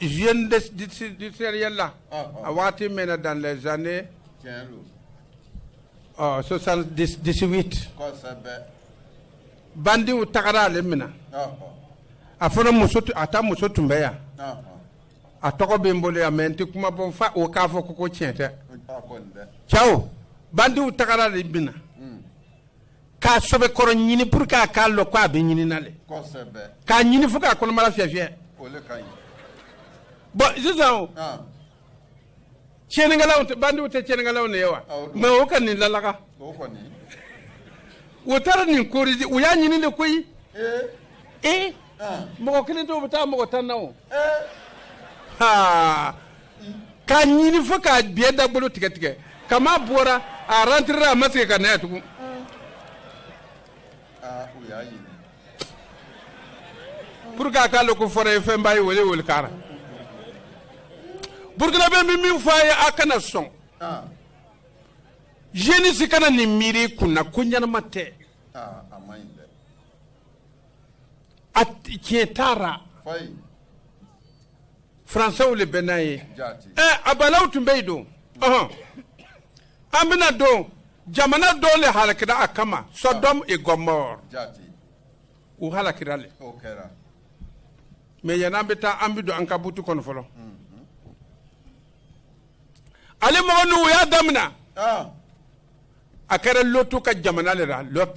Jeune de, du, du sériel là, oh, oh. a waati mɛnna dans les années oh, 78 bandiw tagara ale minɛ oh, oh. a fana muso a ta muso tun bɛ yan oh, oh. a tɔgɔ bɛ n bolo yan mais n tɛ kuma bɔ fa o k'a fɔ ko ko tiɲɛ tɛ cɛw bandiw tagara ale minɛ k'a sɔbɛ kɔrɔ ɲini pour que a k'a lɔn ko a bɛ ɲinina le k'a ɲini fo k'a kɔnɔbara fiyɛfiyɛ bɔ sisan tiɲɛnikɛlaw tɛ bandiw tɛ tiɲɛnikɛlaw de ye wa mais o ka nin lalaga u taara nin korize u y'a ɲini le koyi ee mɔgɔ kelen tɛ o bɛ taa mɔgɔ tan na o k'a ɲini fo k'a biyɛ dagbolo tigɛ tigɛ kama bɔra a rentrera a ma segin ka na yan tugun pour que a k'a lɔn ko fɔrɔ ye fɛnba ye wele wele kɛra burkinabɛ bɛ min fɔ a ye a kana sɔn jeunesse kana nin miiri i kun na ko ɲɛnama tɛ tiɲɛ taara faransɛw le bɛ n'a ye ɛ a balaw tun bɛ yen don an bɛna don jamana dɔw le halakira a kama sɔdɔm e gɔmɔr u halakira le mais yanni an bɛ taa an bɛ don an ka butu kɔnɔ fɔlɔ mm-hmm. ale mɔgɔ ninnu u y'a daminɛ ah. a kɛra lɔtu ka jamana le ra lɔt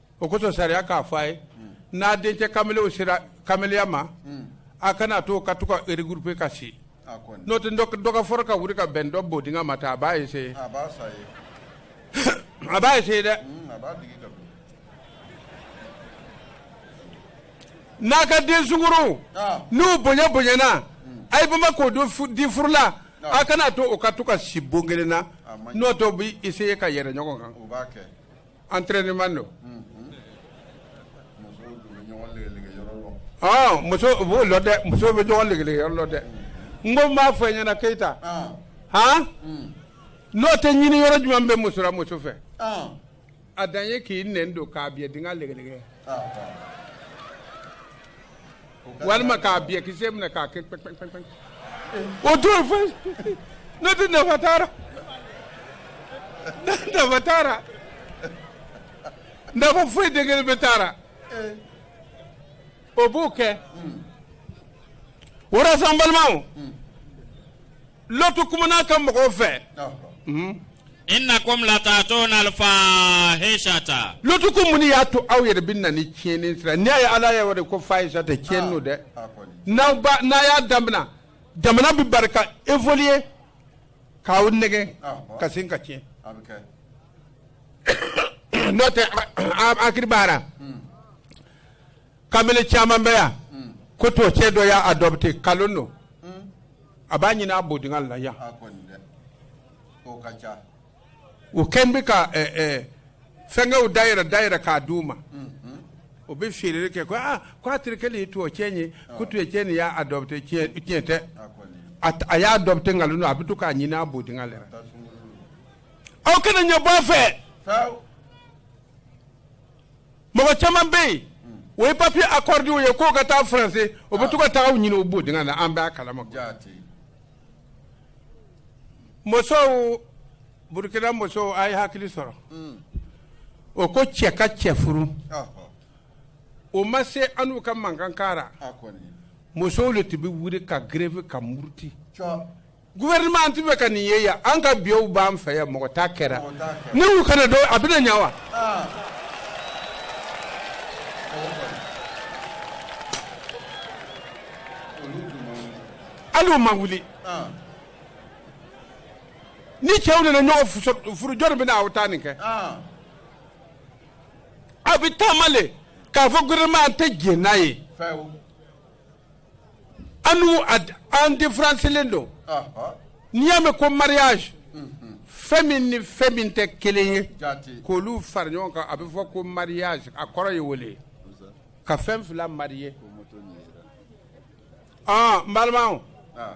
o kosɔn sariya k'a fɔ a ye n'a dencɛ kamalenw sera kamaleya ma a kana to o ka to ka regrouper ka si n'o tɛ dɔ ka fɔrɔ ka wuli ka bɛn dɔ bodingɛ ma ta a b'a essayer a b'a essayer dɛ n'a ka den sunguruw n'u bonya bonyana a ye bama k'o di furula a kana to o ka to ka si bon kelen na n'o tɛ o b'i essayer ka yɛrɛ ɲɔgɔn kan. entraînement don muso b'o la dɛ muso bɛ ɲɔgɔn lɛgɛlɛgɛ yɔrɔ la dɛ n ko b'a fɔ ɲɛna keyita hɔn n'o tɛ ɲini yɔrɔ jumɛn bɛ muso ra muso fɛ a dan ye k'i nɛn don k'a biyɛ dingɛ lɛgɛlɛgɛ walima k'a biyɛ kisɛ minɛ k'a kɛ pɛpɛpɛpɛ o to yen foyi ne tɛ nafa t'a la ne nafa t'a la nafa foyi tɛ kelen pe t'a la o b'o kɛ o la sa n balimaw Lɔtu kumana a ka mɔgɔw fɛ. Innakoum lataatouna al-faahishata Lɔtu ko mun de y'a to aw yɛrɛ bɛ na ni tiɲɛni sira ye? N'i y'a ye Ala y'a wele ko fahishata tiɲɛni don dɛ. N'aw ba n'a y'a damina jamana bɛ bari ka évoluer k'aw nɛgɛn ka segin ka tiɲɛ. N'o tɛ a a a kiribara. kamalen caman bɛ yan hmm. ko tubabu cɛ dɔ y'a adɔpte kalon don hmm. a b'a ɲini a bodinga la yan u kɛn bɛ ka eh, eh, fɛnkɛw dayɛlɛ dayɛlɛ k'a d'u ma hmm, o bɛ feereli kɛ ko aa ko a terikɛ le ye tubabu cɛ ye ko ah. tubabu cɛ nin y'a adɔpte tiɲɛ tɛ a y'a adɔpte nkalon don a bɛ to k'a ɲini a bodinga la aw kana ɲɛ bɔ a fɛ mɔgɔ caman bɛ yen o ye papiye akɔride u ye k'o ka taa faransi o bɛ to ka taa o ɲini o bodinga na an b'a kalama musow burukina musow a ye hakili sɔrɔ hmm. o ko cɛ ka cɛ furu o ma se annu ka mankan k'a ra musow de tun bɛ wuli ka greve ka muruti gouvernement an ti fɛ ka nin ye yan an ka biyɛw b'an fɛ yan mɔgɔ t'a kɛra ne y'u kana dɔn a bɛna ɲa wa hali o ma wuli ni cɛw nana ɲɔgɔn furu jɔni bɛna aw ta nin kɛ aw bɛ taama le k'a fɔ gouvernement an tɛ jɛn n'a ye An'u ad an différence le don Ɔhɔ. n'i y'a mɛn ko mariage fɛn min ni fɛn min tɛ kelen ye Jaati. k'olu fara ɲɔgɔn kan a bɛ fɔ ko mariage a kɔrɔ ye o de ye ka fɛn fila mariye ɔn n balimaw Ah.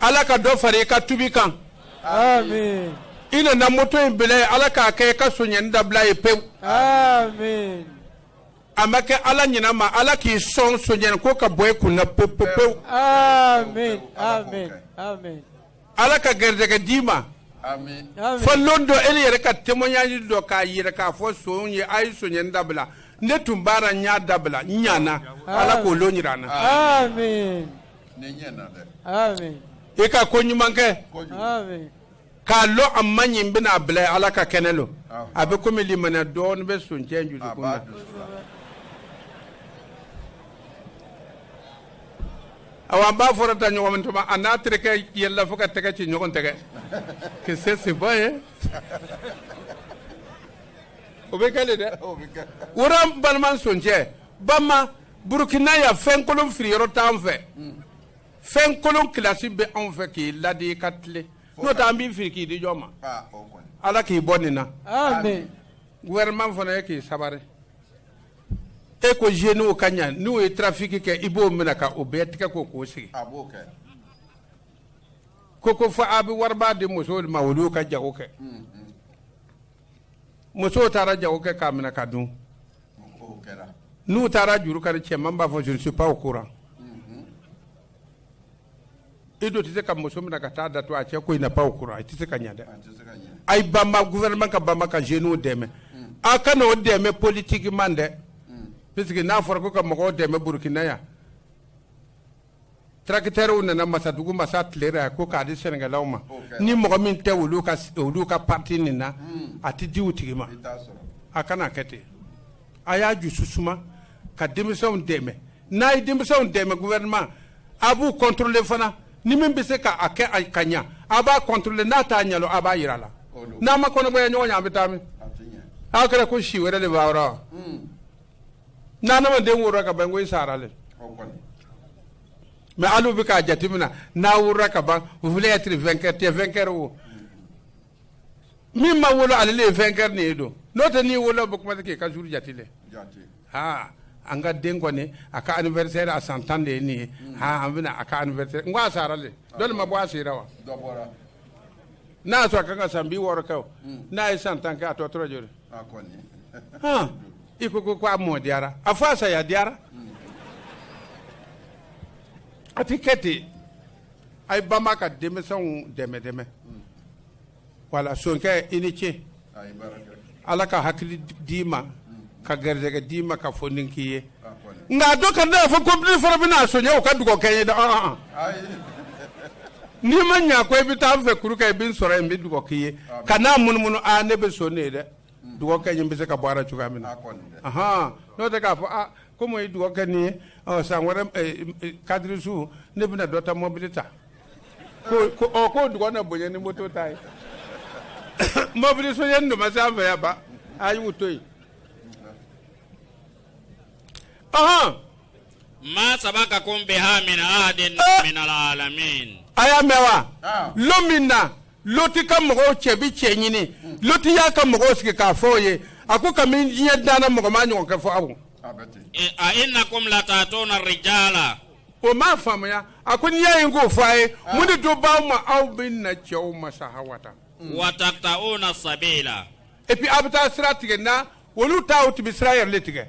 ala ka dɔ fara i ka tubi kan amin i nana moto in bila ye ala k'a kɛ i ka sonyɛni dabila ye pewu amin a ma kɛ ala ɲina ma ala k'i sɔn sonyɛni ko ka bɔ i kun na pewu pewu amin amin amin ala ka garijɛgɛ d'i ma fo lon dɔ e yɛrɛ ka témoignage dɔ k'a yɛrɛ k'a fɔ sonw ye a ye sonya dabila ne tun b'a ra n y'a dabila n ɲana ala k'o lon jira an na i ka ko ɲuman kɛ k'a lɔn a man ɲi n bɛna a bila ala ka kɛnɛ don a bɛ komi limaniya dɔɔnin bɛ soncɛ jusukun na awa an b'a fɔra ta ɲɔgɔn min tuma a n'a terikɛ yɛlɛla fo ka tɛgɛ ci ɲɔgɔn tɛgɛ que c'est c'est bon ye o bɛ kɛ de dɛ woro an balima soncɛ banba burukina yan fɛn kolon firiyɔrɔ t'an fɛ fɛn kolon kilasi bɛ anw fɛ k'i ladi i ka tilen n'o tɛ an b'i firi k'i di jɔn ma ala k'i bɔ nin na gouvernement fana ye k'i sabari e ko zeniw ka ɲa n'u ye trafiki kɛ i b'o minɛ ka o bɛɛ tigɛ ko k'o sigi ko ko fo a bɛ wariba di musow de ma olu y'u ka jago kɛ musow taara jago kɛ k'a minɛ ka dun n'u taara juru kani cɛ ma a b'a fɔ je ne suis pas au courant e do tɛ se ka muso minɛ ka taa datugu a cɛ ko il n'est pas au courant a tɛ se ka ɲɛ dɛ a ye banba gouvernement ka banba ka jeunes dɛmɛ a kana o dɛmɛ politiquement dɛ puisque n'a fɔra ko ka mɔgɔw dɛmɛ Burkina yan tracteurs nana masadugu masa tilera yan ko k'a di sɛnɛkɛlaw ma ni mɔgɔ min tɛ olu ka olu ka parti nin na a tɛ di u tigi ma a kana a kɛ ten a y'a jusu suma ka denmisɛnw dɛmɛ n'a ye denmisɛnw dɛmɛ gouvernement a b'u contrôler fana ni min bɛ se k'a kɛ a ka ɲa a b'a contrôler n'a t'a ɲɛdɔn a b'a yira a la n'an ma kɔnɔgwɛya ɲɔgɔn ɲɛ a bɛ taa min aw kɛra ko si wɛrɛ de b'a ra wa ni adamaden worola ka ban ko i sara le mais hali u bɛ k'a jateminɛ n'a worola ka ban vous voulez être vainqueur i tɛ vainqueur o min ma wolo ale de ye vainqueur nin ye don n'o tɛ n'i wolo bɛ commencer k'i ka jours jate dɛ aa an ka den kɔni a ka anniversaire a san tan de ye nin ye aa an bɛna a ka anniversaire kɛ a sara le dɔ de ma bɔ a si ra wa n'a y'a sɔrɔ a kan ka san biwɔɔrɔ kɛ o n'a ye san tan kɛ a tɔ tora joli hɔn i ko ko a mɔ diyara a fɔ a saya diyara a ti kɛ ten a ye banba ka denmisɛnw dɛmɛ dɛmɛ voilà sonkɛ i ni ce ala ka hakili d'i ma ka garijɛgɛ d'i ma ka fɔ ni k'i ye nka dɔ kana a fɔ ko bi fɔlɔ bɛna son o ka dugawu kɛ n ye dɛ n'i ma ɲɛ ko i bɛ taa fɛ kuru kɛ i bɛ n sɔrɔ yen n bɛ dugawu k'i ye ka na munumunu aa ne bɛ son ne ye dɛ dɔgɔkɛ in bɛ se ka baara cogoya min na hɔn n'o tɛ k'a fɔ aa ko n ye dɔgɔkɛ nin ye san wɛrɛ kadisu ne bɛna dɔ ta mɔbili ta ko dɔgɔ ne bonya ni mɔto ta ye mɔbili so ye nin ma se an fɛ yan ban a y'u to yen maa sabakakum biha min ahadin minal alamin. a y'a mɛn wa ah. lon min na loti ka mɔgɔw cɛ bi cɛ ɲini loti y'a ka mɔgɔw sigi k'a fɔ o ye a ko kamini diɲɛ danna mɔgɔ ma ɲɔgɔn kɛ fɔ aw. Eh, a inakum lataatuna rijala. o m'a faamuya a ko n'i y'a ye n k'o fɔ a ye ah. mun de to b'aw ma aw bɛ na cɛw ma sahawata. wa tata'una sabila. epi aw bɛ taa sira tigɛ na. olu ta o tun bɛ sira yɛrɛ le tigɛ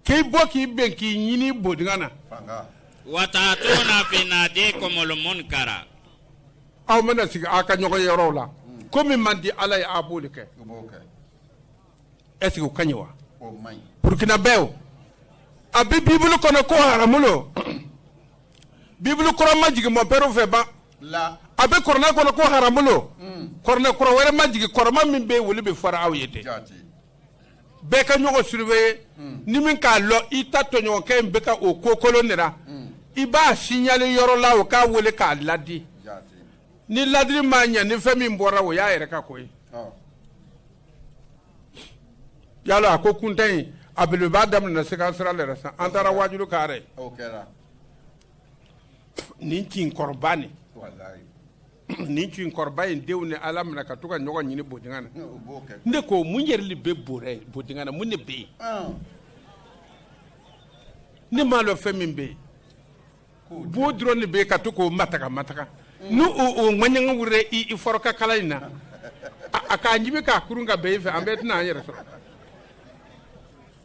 k'i bɔ k'i ben k'i ɲini bodinga na wa taatuna fi nadikumul munkara aw mana sigi aw ka ɲɔgɔnyeyɔrɔw la ko min man di ala ye a b'o le kɛ est ce que o ka ɲi wa burkinabɛw a bɛ bibulu kɔnɔ ko haramu lo bibulu kura ma jigin mɔnpɛriw fɛ ban a bɛ kurana kɔnɔ ko haramu lo kurana kura wɛrɛ ma jigin kɔrɔman min bɛ olu bɛɛ fɔra aw ye dɛ bɛɛ ka ɲɔgɔn surveiller ni min k'a lɔn i ta tɔɲɔgɔnkɛ in bɛ ka o ko kolon nin na i b'a signaler yɔrɔ la o k'a weele k'a ladi ni ladili ma ɲɛ ni fɛn min bɔra o y'a yɛrɛ ka ko ye yala a ko kuntan in a bɛlɛbaa daminɛ se ka sira yɛrɛ san an taara waajuli kɛ nin kin kɔrɔba nin nin kin kɔrɔba in denw ne y'a daminɛ ka to ka ɲɔgɔn ɲini bodinga na ne ko mun yɛrɛ le bɛ bodinga na mun ne bɛ yen ne m'a lɔn fɛn min bɛ yen bo dɔrɔn de bɛ yen ka to k'o mataka mataka ni o ŋɛɲɛ wulila i i fɔrɔkala in na a k'a ɲimi k'a kurun ka ben i fɛ an bɛɛ tɛna an yɛrɛ sɔrɔ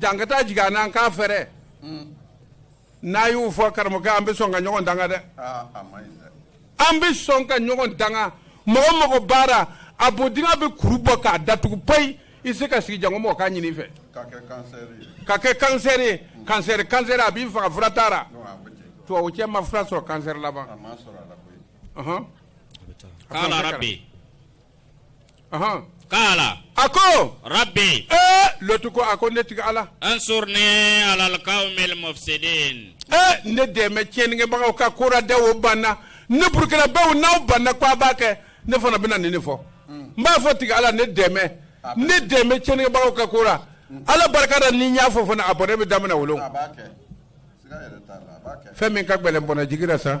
Jan ka taa jigin an n'an k'a fɛɛrɛ n'a y'u fɔ karamɔgɔkɛ an bɛ sɔn ka ɲɔgɔn danga dɛ Aa, a ma ɲi dɛ. an bɛ sɔn ka ɲɔgɔn danga mɔgɔ o mɔgɔ b'a ra a bodinga bɛ kuru bɔ k'a datugu payi i se ka sigi janko mɔgɔ k'a ɲini i fɛ Ka kɛ kansɛri ye. ka kɛ kansɛri ye kansɛri kansɛri a b'i faga fura t'a la Non, a bɛ ten. tubabu cɛ ma fura sɔrɔ kansɛri la ban A ma sɔrɔ a la koyi. Ɔhɔn. Kaala rabi. Ɔnhɔn, Kaala a ko, rabi ee Lɔtu ko, a ko ne tigi Ala, ansurni alal kawmil mufsidin ee ne dɛmɛ tiɲɛnikɛbagaw ka ko la dɛ, o banna ne burukinabew n'aw banna ko a b'a kɛ ne fana bɛna nin de fɔ n b'a fɔ tigi Ala ne dɛmɛ ne dɛmɛ tiɲɛnikɛbagaw ka ko la Ala barika la ni n y'a fɔ fana a bɔnɛ bɛ daminɛ o lon a b'a kɛ siga yɛrɛ t'a la a b'a kɛ fɛn min ka gɛlɛn bɔnɛ jigila sa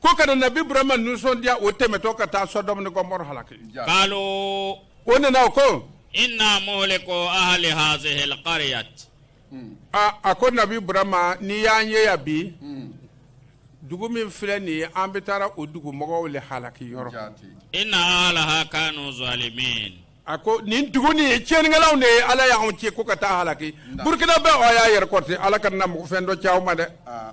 ko ka na nabi ibrahima nisɔndiya o tɛmɛtɔ ka taa sɔdɔmu ni gɔmɔrɔ halaki kalo o nana o ko inna muhliku ahli hazihi alqaryat hmm. a a ko nabi ibrahima n'i y'an ye yan bi hmm. dugu min filɛ nin ye an bɛ taara o dugu mɔgɔw le halaki yɔrɔ inna ahlaha kanu zalimin a ko nin dugu nin ye tiɲɛnikɛlaw de ye ala y'anw ci ko ka taa halaki burukinabɛw y'a yɛrɛ kɔrɔte ala kana na mɔgɔ fɛn dɔ ci aw ma dɛ ah.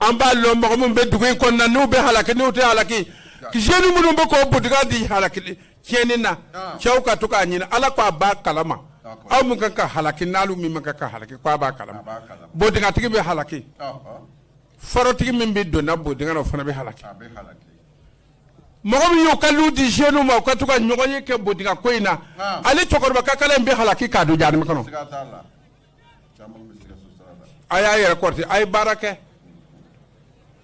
an b'a lɔn mɔgɔ minnu bɛ dugu in kɔnɔna n'u bɛ halaki n'u tɛ halaki jeune minnu bɛ k'o bodinga di halaki tiɲɛni na ah. cɛw ka to k'a ɲini ala k'a b'a kalama aw min kan ka halaki n'alu min man kan ka halaki k'a b'a kalama bodingatigi bɛ halaki forotigi min bɛ donna bodinga la o fana bɛ halaki mɔgɔ min y'u ka lu di jeune ma u ka to ka ɲɔgɔn ye kɛ bodinga ko in na ah. ale cɛkɔrɔba kakala in bɛ halaki k'a don jahanama kɔnɔ a y'a yɛrɛ kɔrɔte a ye baara kɛ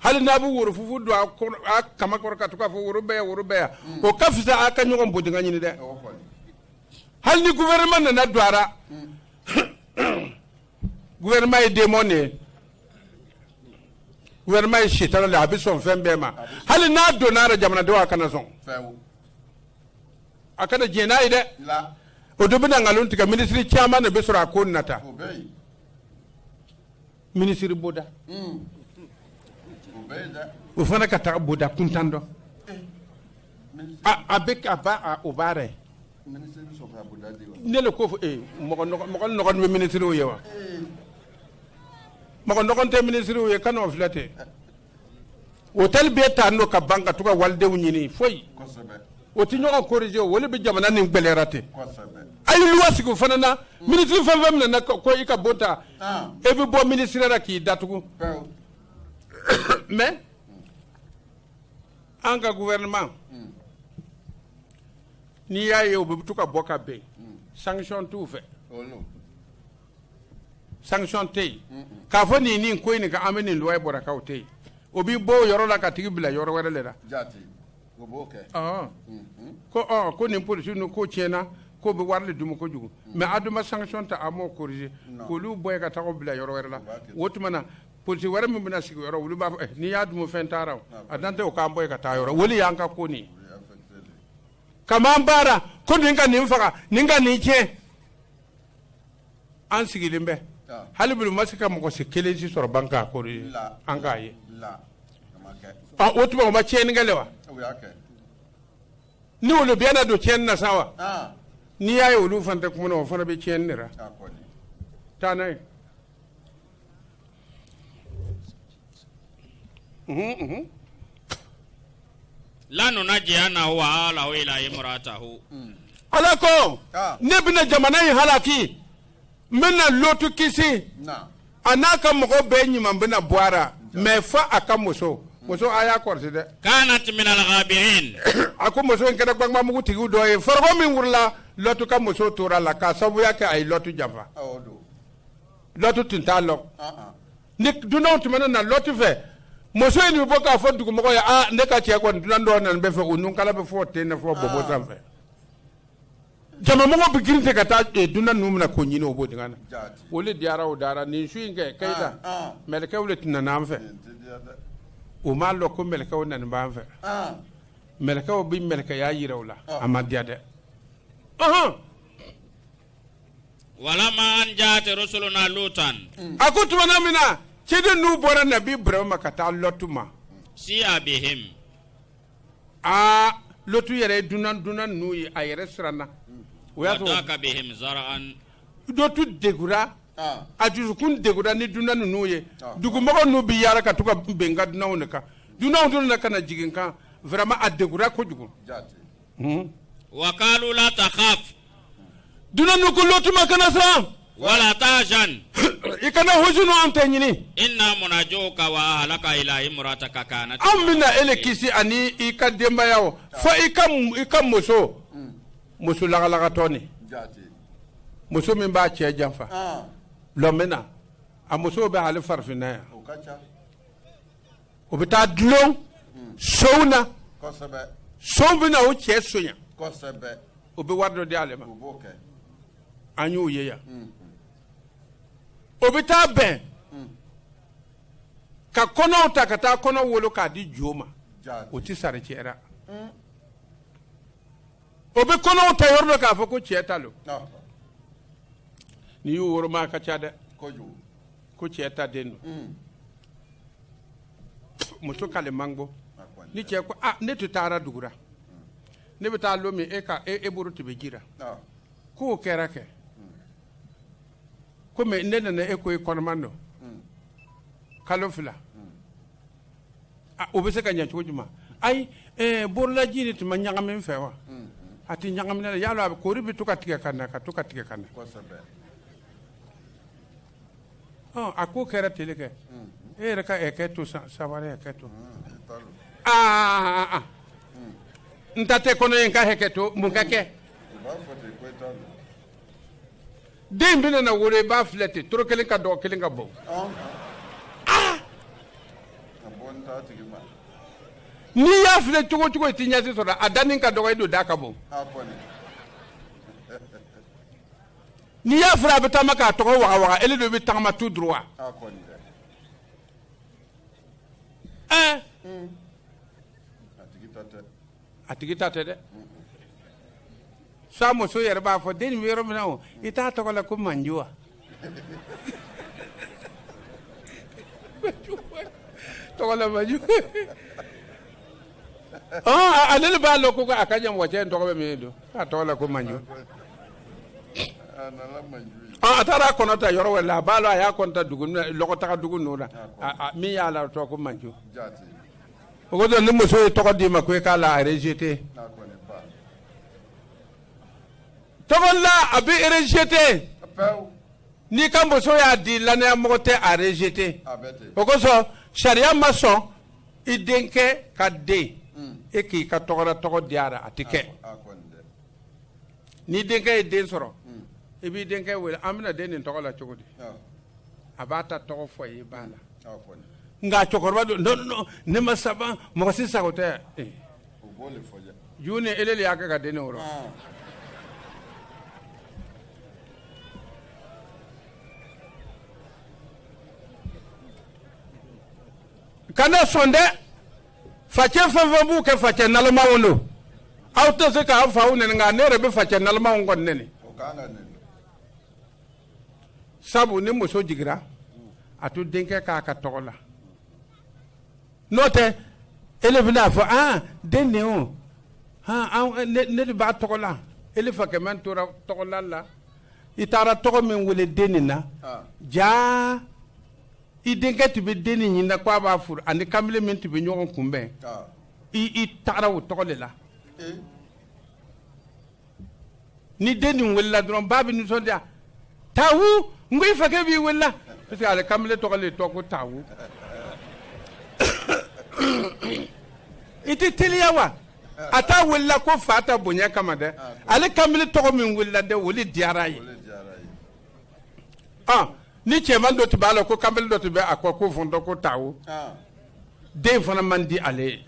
hali n'a bɛ woro fufu don a kaman kɔrɔ ka to ka fɔ woro bɛ yan woro bɛ yan o ka fisa a ka ɲɔgɔn bodinga ɲini dɛ hali ni gouvernement nana don a ra gouvernement ye démon de ye gouvernement ye setana le a bɛ sɔn fɛn bɛɛ ma hali n'a donna a ra jamanadenw a kana sɔn a kana diɲɛ n'a ye dɛ o don bɛna nkalon tigɛ minisiri caman de bɛ sɔrɔ a ko nata minisiri boda hmm. o fana ka taa boda kuntan dɔn a bɛ ka ba o baara ye ne le ko fɔ ee mɔgɔ nɔgɔn bɛ minisiriw ye wa mɔgɔ nɔgɔn tɛ minisiriw ye kan'o filɛ ten hôtel bɛ ta n'o ka ban ka to ka walidenw ɲini foyi o tɛ ɲɔgɔn corriger o le bɛ jamana nin gbɛlɛyara ten a ye loi sigi o fana na minisiri fɛn fɛn minɛna ko i ka bon ta e bɛ bɔ minisiriya la k'i datugu mais an ka gouvernement n'i y'a ye u bɛ to ka bɔ ka bɛn sanction t'u fɛ sanction tɛ yen k'a fɔ nin nin ko in nin ka an bɛ nin loi bɔra k'aw tɛ yen o b'i bɔ o yɔrɔ la ka tag'i bila yɔrɔ wɛrɛ le ra. O b'o kɛ ɔɔ unhun ko ɔɔ ko nin policiers ninnu ko tiɲɛna k'o bɛ wari le dumu kojugu mais a dun ma sanction ta a m'o corriger Non. k'olu bɔ yen ka taa o bila yɔrɔ wɛrɛ la U b'a kɛ o tuma na policier wɛrɛ min bɛna sigi o yɔrɔ olu b'a fɔ eh, n'i y'a dumu fɛn t'a ra a dan tɛ o k'an bɔ yen ka taa yɔrɔ o de y'an ka ko nin ye o ye affecté de ye. ka m'an baara ko nin ka nin faga nin ka nin tiɲɛ an sigilen bɛ hali b'olu ma se ka mɔgɔ si kelen si sɔrɔ ban k'a ko ye an k'a ye o tuma o ma tiɲɛni kɛ le wa ni olu bɛɛ nana don tiɲɛn na sa wa n'i y'a ye olu fana tɛ kuma o fana bɛ tiɲɛn de taa n'a ye lanunajiyanahu wa ahlahu ila imratahu. Hmm. ala ko ah. ne bɛna jamana in halaki n bɛna lɔtu kisi a n'a ka mɔgɔ bɛɛ ɲuman bɛna bɔ a la mɛ fo a ka muso hmm. muso a y'a kɔrɔsi dɛ. kanat minal gabirin. a ko muso in kɛra gbangbamugu tigiw dɔ ye foroko min wurula lɔtu ka muso tor'a la k'a sababuya kɛ a ye lɔtu janfa. lɔtu tun t'a lɔn ko ni dunanw tun mana na lɔtu fɛ muso in bɛ bɔ k'a fɔ dugumɔgɔ ye aa ne ka cɛ kɔni dunan dɔw nana bɛ fɛ o nunkala bɛ fo ten ne fo bɔbɔ sanfɛ jamamɔgɔ bɛ girin ten ka taa eh, dunan ninnu minɛ k'o ɲini o bodingɛ na o de diyara o da ra nin su in kɛ kayita mɛlɛkɛw de tun nana an fɛ o m'a lɔn ko mɛlɛkɛw nana b'an fɛ mɛlɛkɛw bɛ mɛlɛkɛya yira u la a ma diya dɛ ɔhɔn walama an ja'at rusuluna lutan mm. a ko tumana min na ciden ninnu bɔra nabi ibrahim ma ka taa lɔtu ma si'a bihim a lɔtu yɛrɛ ye dunan ninnu ye a yɛrɛ siranna wa daka bihim zara'an lɔtu degura ah. a dusukun degura ni dunan ninnu ye ah. dugumɔgɔ ninnu bɛ yaala ka to ka benkan dunanw de kan dunanw dun na ka na jigin kan vraiment a degura kojugu hmm? wa kalu la takhaf dunan ninnu ko lɔtu ma kana siran wala tahzan i kana hujunu an tɛ ɲini inna munajuka wa ahlaka ila imrataka kanat an bɛna ele kisi ani i ka denbaya o fo i ka i ka muso muso lagalagatɔ ni muso min b'a cɛ janfa lɔmina a musow bɛ hali farafinna yan o bɛ taa dulon sonw na sonw bɛ na o cɛ sonya o bɛ wari dɔ di ale ma an y'o ye yan mm. o bɛ taa bɛn mm. ka kɔnɔ ta ka taa kɔnɔ wolo k'a di jɔn ma o tɛ sari cɛ ra mm. o bɛ kɔnɔ ta yɔrɔ dɔ k'a fɔ ko cɛ ta don n'i y'u woroma a ka ca dɛ ko cɛ ta den don muso k'ale man gbo ni cɛ ko ah, ne tun taara dugu ra ne bɛ taa lon min e ka e, e bolo tun bɛ ji ra ah. k'o kɛra kɛ komi ne nana e ko e kɔnɔma don hmm. kalo fila hmm. ah, o bɛ se ka ɲɛ cogo jumɛn ayi eh, borolaji de tun ma ɲagami e fɛ wa hmm, a tun ɲagamina ala y'a dɔn a koli bɛ to ka tigɛ ka na ka to ka tigɛ ka na a ko kɛra teli kɛ e yɛrɛ ka hakɛ to sabari hakɛ to aa n ta tɛ kɔnɔ ye n ka hakɛ to mun ka kɛ den bɛna na wolo i b'a filɛ ten tolo kelen ka dɔgɔ kelen ka bon n'i y'a filɛ cogo cogo i tɛ ɲɛ si sɔrɔ a da ka dɔgɔ i don da ka bon n'i y'a filɛ a bɛ taama k'a togo wagawaga ele de bɛ tagama tout droit wa ɛɛ a tigi ta tɛ dɛ sa muso yɛrɛ b'a fɔ den nin bɛ yɔrɔ min na o i t'a tɔgɔ la ko manju wa tɔgɔ la manju Ah, ale de b'a lɔn ko a ka ɲamɔgɔcɛ in tɔgɔ bɛ min don k'a tɔgɔ la ko manju Ah, a taara a kɔnɔ ta yɔrɔ wɛrɛ la a b'a lɔn a ye kɔnɔ ta dugu n- lɔgɔtaga dugu ninnu na A- a- min y'a la tɔgɔ ko manju o kosɔn ni muso ye tɔgɔ d'i ma ko i k'a la a rejeter tɔgɔ la a bɛ rejeter n'i ka muso y'a di lannaya mɔgɔ tɛ a rejeter o kosɔn sariya ma sɔn i denkɛ ka den e k'i ka tɔgɔda tɔgɔ di a la a tɛ kɛ ni denkɛ ye den sɔrɔ i b'i denkɛ wele an bɛna den nin tɔgɔ la cogo di a b'a ta tɔgɔ fɔ i ye i b'a la nka cɛkɔrɔba don non non ne ma saban mɔgɔ si sago tɛ eh. juu ni ele de y'a kɛ ka den nin wolo kana sɔn dɛ facɛ fɛn fɛn b'o kɛ facɛ nalomaw don aw tɛ se k'aw faw nɛni nka ne yɛrɛ bɛ facɛ nalomaw kɔni nɛni sabu ni muso jigira a to denkɛ k'a ka tɔgɔ la n'o tɛ ele bɛna fɔ aa den nin o ne de b'a tɔgɔ la ele fakɛ min tora tɔgɔla la i taara tɔgɔ min wele den nin na jaa i denkɛ tun bɛ den nin ɲinina ko a b'a furu ani kamalen min tun bɛ ɲɔgɔn kunbɛn i taara o tɔgɔ de la ni den nin welela dɔrɔn ba bɛ nisɔndiya taa n ko i fakɛ b'i welela parce que ale kamalen tɔgɔ de don ko taa i tɛ teliya wa a t'a welela ko fa ta bonya kama dɛ ale kamalen tɔgɔ min welela dɛ o de diyara a ye ni cɛman dɔ tun b'a la ko kanbele dɔ tun bɛ a kɔ ko fɔntɔ ko tawo den fana man di ale ye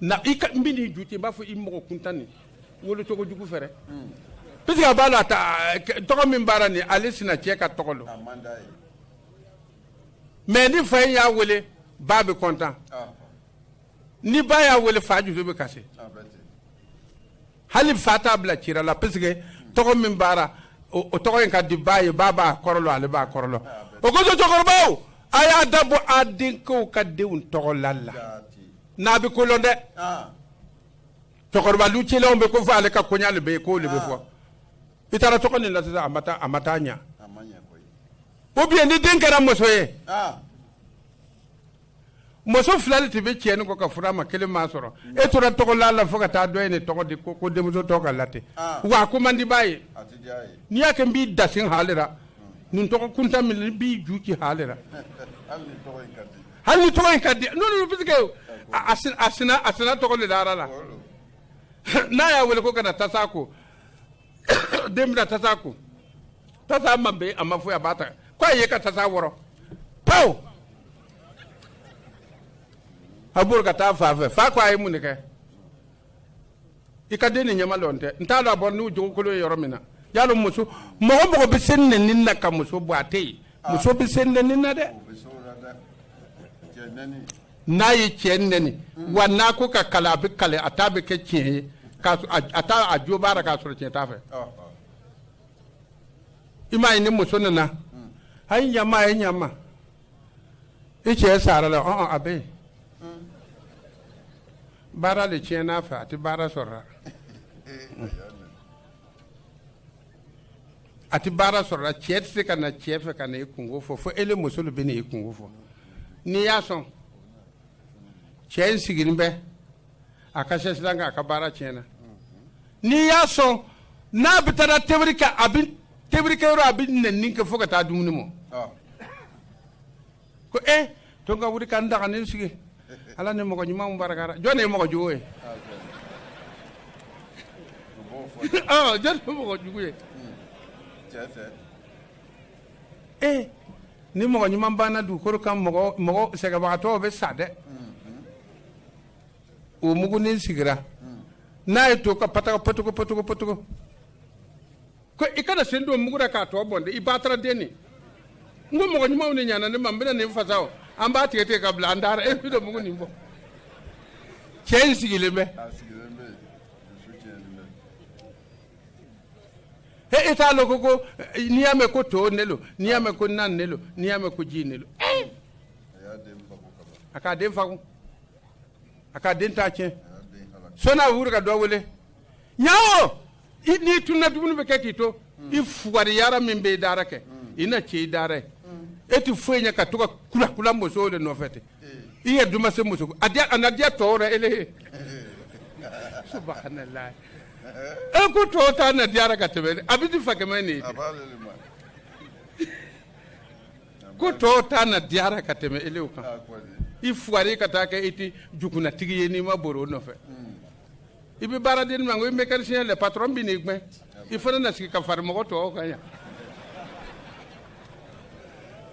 na i ka n bɛ n'i ju ten i b'a fɔ i mɔgɔ kuntan nin wolocogo jugu fɛ dɛ hmm. parce que a b'a lɔn tɔgɔ min b'a ra nin ale sina cɛ ka tɔgɔ don mais ni fa in y'a wele ba bɛ content ni ba y'a wele fa jusu bɛ kasi hali fa t'a bila ci la parce que tɔgɔ min b'a ra o tɔgɔ in ka di ba ye ba b'a kɔrɔ lɔn ale b'a kɔrɔ lɔn o kosɔn cɛkɔrɔbaw a y'a da bɔ a denkɛw ka denw tɔgɔ la la n'a bɛ ko lɔn dɛ cɛkɔrɔba lu cilenw bɛ ko fɔ ale ka koɲa de bɛ yen k'o de bɛ fɔ i taara tɔgɔ nin la sisan a ma taa a ma taa ɲa ou bien ni den kɛra muso ye muso fila de tun bɛ cɛ ni kɔ ka fura ma kelen ma sɔrɔ e tora tɔgɔ la la fo ka taa dɔ ye tɔgɔ di ko ko denmuso tɔgɔ ka la ten ah. wa a ko man di ba ye n'i y'a kɛ n b'i da halira nin tɔgɔ kuntan nin n b'i ju ci halira hali ni tɔgɔ in ka di n'olu parce que a sina tɔgɔ de dara a la n'a y'a wele ko ka na tasa ko den bɛna tasa ko tasa ma bɛn a ma foyi a b'a ta ko a ye ka tasa wɔrɔ paw a bɛ bori ka taa fa fɛ fa ko a ye mun de kɛ i ka den nin ɲama lo n tɛ n t'a dɔn a bɔra n'o jogo kolon ye yɔrɔ min na y'a dɔn muso mɔgɔ mɔgɔ bɛ se nɛni na ka muso bɔ a tɛ yen muso bɛ se nɛni na dɛ. n'a ye cɛ nɛni wa n'a ko ka kali a bɛ kali a ta bɛ kɛ tiɲɛ ye k'a sɔ- a- a t'a a jo b'a la k'a sɔrɔ tiɲɛ t'a fɛ i m'a ye ni muso nana a ye ɲama a ye ɲama i cɛ sara la ɔn a bɛ yen baara de tiɲɛna a fɛ a tɛ baara sɔrɔ la a tɛ baara sɔrɔ la cɛ tɛ se ka na cɛ fɛ ka na i kunko fɔ fo e muso de bɛ na i kunko fɔ n'i y'a sɔn cɛ in sigilen bɛ a ka sɛsi la k'a ka baara tiɲɛna n'i y'a sɔn n'a bɛ taa tɛbiri kɛ a bɛ tɛbirikɛ yɔrɔ a bɛ nɛni kɛ fo ka taa dumuni mɔ ko e eh, to n ka wuli ka n daga nin sigi ala ni mɔgɔ ɲumanw baraka ra jɔn de ye mɔgɔ jugu ye ah, jɔn de ye mɔgɔ jugu ye e eh, ni mɔgɔ ɲuman banna dugukolo kan mɔgɔ mɔgɔ sɛgɛnbagatɔw bɛ sa dɛ o mugunin sigira n'a ye to ka pataka patoko patoko patoko ko i kana sen don mugu la k'a tɔ bɔn dɛ i ba taara den nin n ko mɔgɔ ɲumanw de ɲana ne ma n bɛna nin fasa o an b'a tigɛ tigɛ ka bila an taara e bɛ don mugu nin bɔ cɛ in sigilen bɛ he i t'a lɔn ko ko n'i y'a mɛn ko to ne lo n'i y'a mɛn ko nan ne lo n'i y'a mɛn ko ji ne lo a k'a den fagun a k'a den t'a tiɲɛ sɔnni a wuli ka dɔ wele ɲawo n'i tununa dumuni bɛ kɛ k'i to i fugariya min bɛ i dara kɛ i na cɛ i dara ye e tɛ foyi ɲɛ ka to ka kula kula musow de nɔfɛ ten i ye duma se muso a a na diya tɔw la ele ye e ko tɔw ta na diyara ka tɛmɛ a bɛ di fa kɛmɛ nin ye ko tɔw ta na diyara ka tɛmɛ elew kan i fugari ka taa kɛ e tɛ jukunantigi ye n'i ma bori o nɔfɛ i bɛ baara di ne ma ko i mécanicien le patron bɛn'i gɛn i fana na sigi ka fari mɔgɔ tɔw kan yan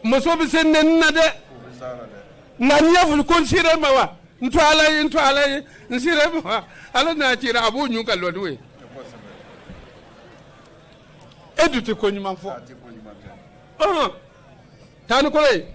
muso bɛ se nɛni na dɛ nka n'i y'a fɔ ko n sira ma wa n to ala ye n to ala ye n sira ma wa ala n'a cira a b'o ɲun ka lɔ n'o ye e dun tɛ ko ɲuman fɔ ɔhɔn taa ni kolo ye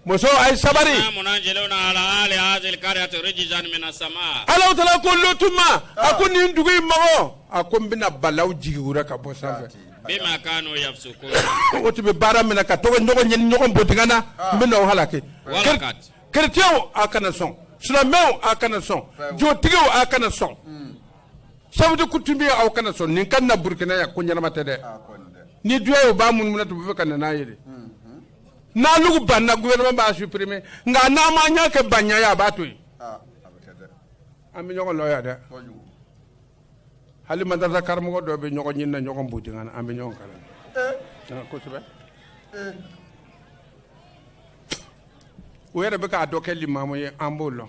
muso a ye sabari. inna munziluna ala ahali hazihil kariyati rijizan mina sama. alahu taala ko lutu ma a ko nin dugu in mɔgɔ a ko n bɛna balaw jigi o ra ka bɔ sanfɛ. bima kanu yafsukun. o tun bɛ baara min na ka to ka ɲɔgɔn ɲini ɲɔgɔn bodinga na n bɛna o halaki. walakad. kerecɛnw a kana sɔn silamɛw a kana sɔn jotigiw a kana sɔn sabuti coutumier aw kana sɔn nin ka na burukina yan ko ɲɛnama tɛ dɛ ni duya ye u b'a munumunu tun bɛ fɛ ka na n'a ye dɛ. n'alugu banna gouvernement b'a supprimer nka n'an m'an ɲɛ kɛ banya ye a b'a to yen an bɛ ɲɔgɔn lɔn yan dɛ hali madarasa karamɔgɔ dɔw bɛ ɲɔgɔn ɲini na ɲɔgɔn bodinga na an bɛ ɲɔgɔn kalan kosɛbɛ u yɛrɛ bɛ k'a dɔ kɛ limamu ye an b'o lɔn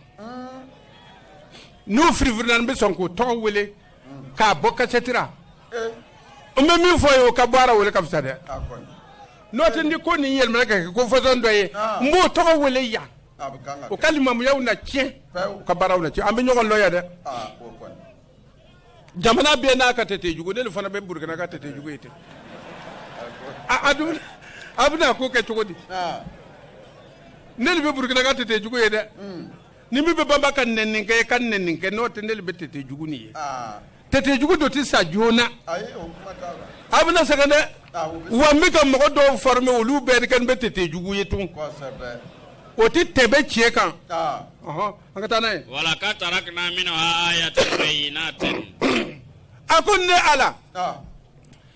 n'u firifirina n bɛ sɔn k'u tɔgɔ wele k'a bɔ kasɛti ra n bɛ min fɔ ye o ka bɔ a ra o le ka fisa dɛ N'o tɛ ni ko nin yɛlɛmana ka kɛ ko façon dɔ ye, n b'o tɔgɔ wele yan, o ka limamuyaw na cɛn, u ka baaraw na cɛn, an bɛ ɲɔgɔn lɔn yan dɛ, jamana bɛɛ n'a ka tete jugu, ne le fana bɛ Burukina ka tete jugu ye dɛ, a a dun a bɛna ko kɛ cogo di, ne le bɛ Burukina ka tete jugu ye dɛ ni min bɛ banba ka nɛni kɛ ka nɛni kɛ n'o tɛ ne bɛ tete jugu ni ye tete jugu dɔ tɛ sa joona a bɛna sɛgɛn dɛ wa n bɛ ka mɔgɔ dɔw fɔrɔme olu bɛɛ kɛ n bɛ tete jugu ye tun o tɛ tɛmɛ tiɲɛ kan an ka taa n'a ye wala k'a taara ka n'a minɛ a y'a tɛ n'a tɛ a ko ne ala